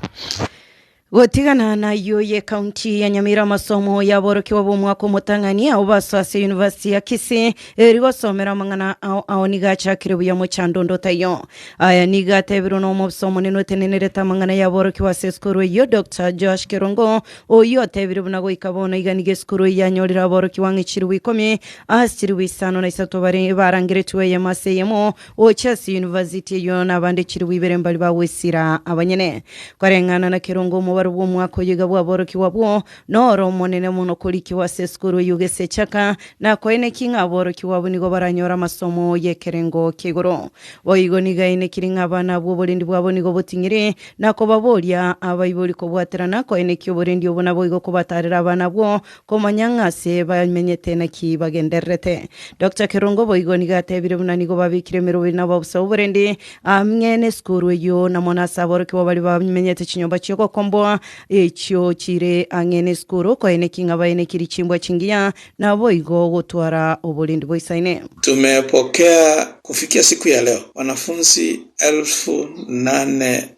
Gotigana nayio y'ecounty ya Nyamira amasomo y'aborokigwa b'omwaka omotang'ani ao baso ase University ya Kisii eri gosomera amang'ana ao ao nigo achakire buya mochandondoto ayio. Aya nigo atebirwe n'omobisa omonene otenenerete amang'ana y'aborokigwa ase esukuru eyio Doctor Joash Kerongo oyio otebire buna goika bono iga nigo esukuru eyio yanyorire aborokigwa ng'a chilifu ikomi ase chilifu isano na isato bare barangeretigwe eyemo ase eyemo Gocha ase yunivasiti eyio nabande chilifu ibere mbari bagwesira abanyene. Koreng'ana na kerongo omobaro bw'omwaka oyio iga bwaborokigwa bwo noro omonene mono korikigwa ase esukuru eyio gesechaka, na koeneki ng'a aborokigwa abwo nigo baranyore amasomo y'ekerengo kia igoro. Boigo nigo aenekiri ng'a abana abwo oborendi bwabo nigo boting'iri, na kobaboria abaibori kobwaterana koenekia oborendi obo naboigo kobatarera abana abwo Komanya ng'a ase bamenyete naki bagendererete. Doctor Kerongo boigo nigo atebire buna nigo babekire emerogo ere nababusa oborendi ang'e nesukuru eyio na mono ase aborokigwa baria bamenyete chinyomba chiogokomboa echio chire ang'e nesukuru okoeneki ng'a baenekirie chimbwa chingiya naboigo gotwara oborendi boisaine. Tumepokea kufikia siku ya leo wanafunzi elfu nane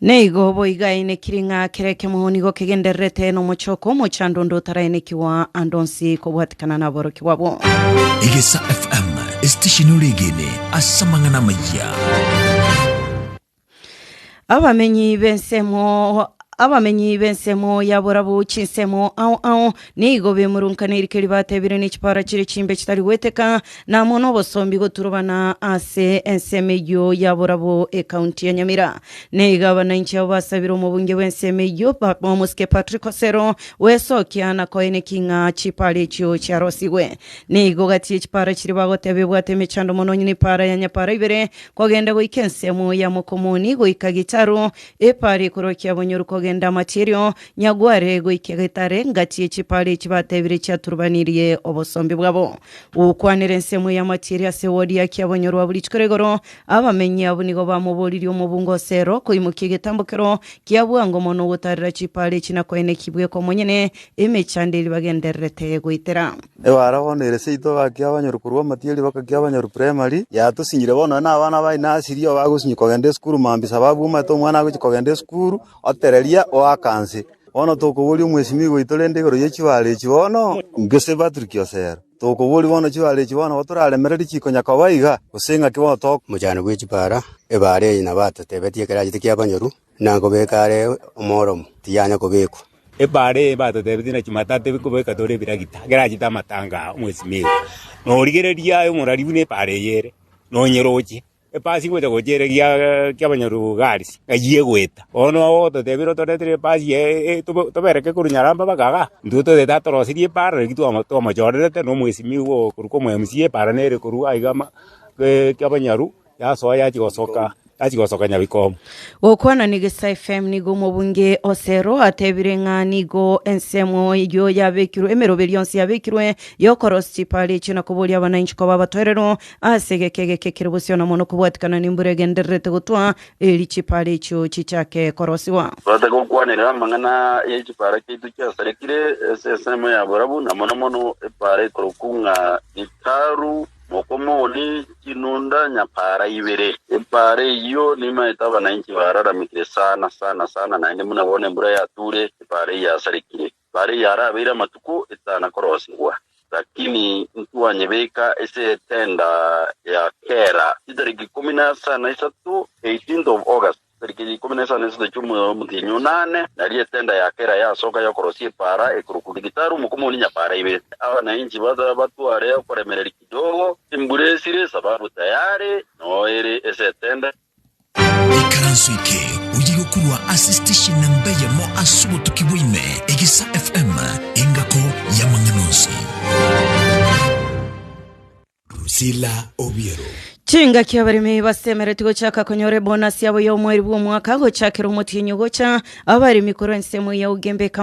Naigo boigo aenekiri ng'a kera ekemogo nigo kegendererete nomochoko omochando onde otaraenekigwa ande onsi kobwatikana naborokigwa bo. Egesa FM, esitesheni ore egene ase amang'ana amayia. Abamenyi b'ensemo abamenyi b'ensemo yaborabu chinsemo ao ao Nigo bemurunkanire eke ribatebire ne chipara chire chimbe chitari gweteka, na amo nobosombi goturubana ase ensemo eyio ya Burabwo Ekaunti ya Nyamira. Na iga abananchi abo basabire omobunge bw'ensemo eyio Papa omosike Patrick Osero gwesokia na koe neki ng'a chipara echio chiarosigwe. Nigo gati ye chipara chiria bagoteba ebwate emechando mono onye nepara ya nyapara ibere kogenda goika ensemo ya Mokomoni goika Gitaru, epara ekorokia Bonyoru kogenda Amacherio, Nyagware goika getare, ngati echipara echi batebire chiaturubanirie obosombi bwabo. Gokwanera ensemo y'amache ere ase wodi yake abonyorwa abo rituko rigoro, abamenyi abwo nigo bamoboririe omobunga o Sero koimokia egetambo kero kia bwango mono ogotaarera chipara echi na koenekia ibweka omonyene emechando eria bagendererete goitera. Egwara bono ere seito gaki abanyoru korwa amatiyo ribaka kia abanyoru primary. Yatusinyire bono nonye nabana ba inasiri obagosinyi kogenda esukuru mambisa babwomate omwana agochi kogenda esukuru. Otereria oaka nse. Bono tokoboria omwesimi ogo oito rende igoro ye chibare echi bono. Gese Patrick osero. Tokoboria bono chibare echi bono nigo toraremereri chikonya koba iga, gose ng'aki bono to. Omochando bwe chibara, ebare eye nabatotebetie ekero achete kiabanyoru, na nkobeka are omoromo, tiyanya kobekwa. Ebare eye batotebetie na chimata tebe kobeka tore ebiragita, ekero achete amatanga aa omwesimi iga, norigereria aye omorari buna ebare eye ere, nonyere oche. Epaasi gocha gochia ere gia kiabanyarobu Gaalisi, ng'ayie goeta. Bono ogototebia ero toretire epaasi eye tobereke korwa nyaramba mpaka igaa, intwe toete atoroserie epaara riria twama twamachorerete na omwesimigwa oo korwa kwa omo MC epaara nere korwa aiga ama kiabanyaru yasoa yachia gosoka yachia gosoka nyabikoomo. Gokwana na Egesae FM nigo omobunge Osero atebire ng'a nigo ensemo eyio yabekirwe emeroberio yonsi yabekirwe y'okorosia chipaara echio na koboria abanainchi koba abatoereru Ase egeka egeke ekero bosio na mono kobwatikana nembura egendererete gotwa, eeri chipaara echio chichake korosigwa. Tobaate gokwanera amang'ana ye chipaara chiaito chiasarekire ase ensemo ya borabu, na mono mono epaara ekorokwa ng'a Gitaru, Mokomoni, Chinunda, Nyapaara ibere. Epaara eyio nemaete abananchi baararamekire sana sana sana, naende buna bono embura yatuure, epaara eyio yasarekire. Bare yarabeire amatuko etano na korosegwa, lakini ntwanyebeka ase etenda ya kera chitariki ikomi na asa na isato, 18th of August, chitariki ikomi na asa na isato chi'omwezi omotienyi o nane, nario etenda ya kera yasoka y'okorosia epaara ekorokwa Gitaru mokomonia nyapaara ibere. Abananchi bata batware okoremereria kidogo, embura esire, esababu tayare noere ase etenda. Ikaranso eke oye gokurwa ase station namba eyemo ase obotuki bwaime, Egesa FM, engako y'amang'ana onsi. Rusila Obiero. Chingaki abaremi basemeretie gochaka konyora ebonasi yabo ya omweri bw'omwaka gochakera omotienyi gocha abaremi korwa ensemo ya Ugembe County.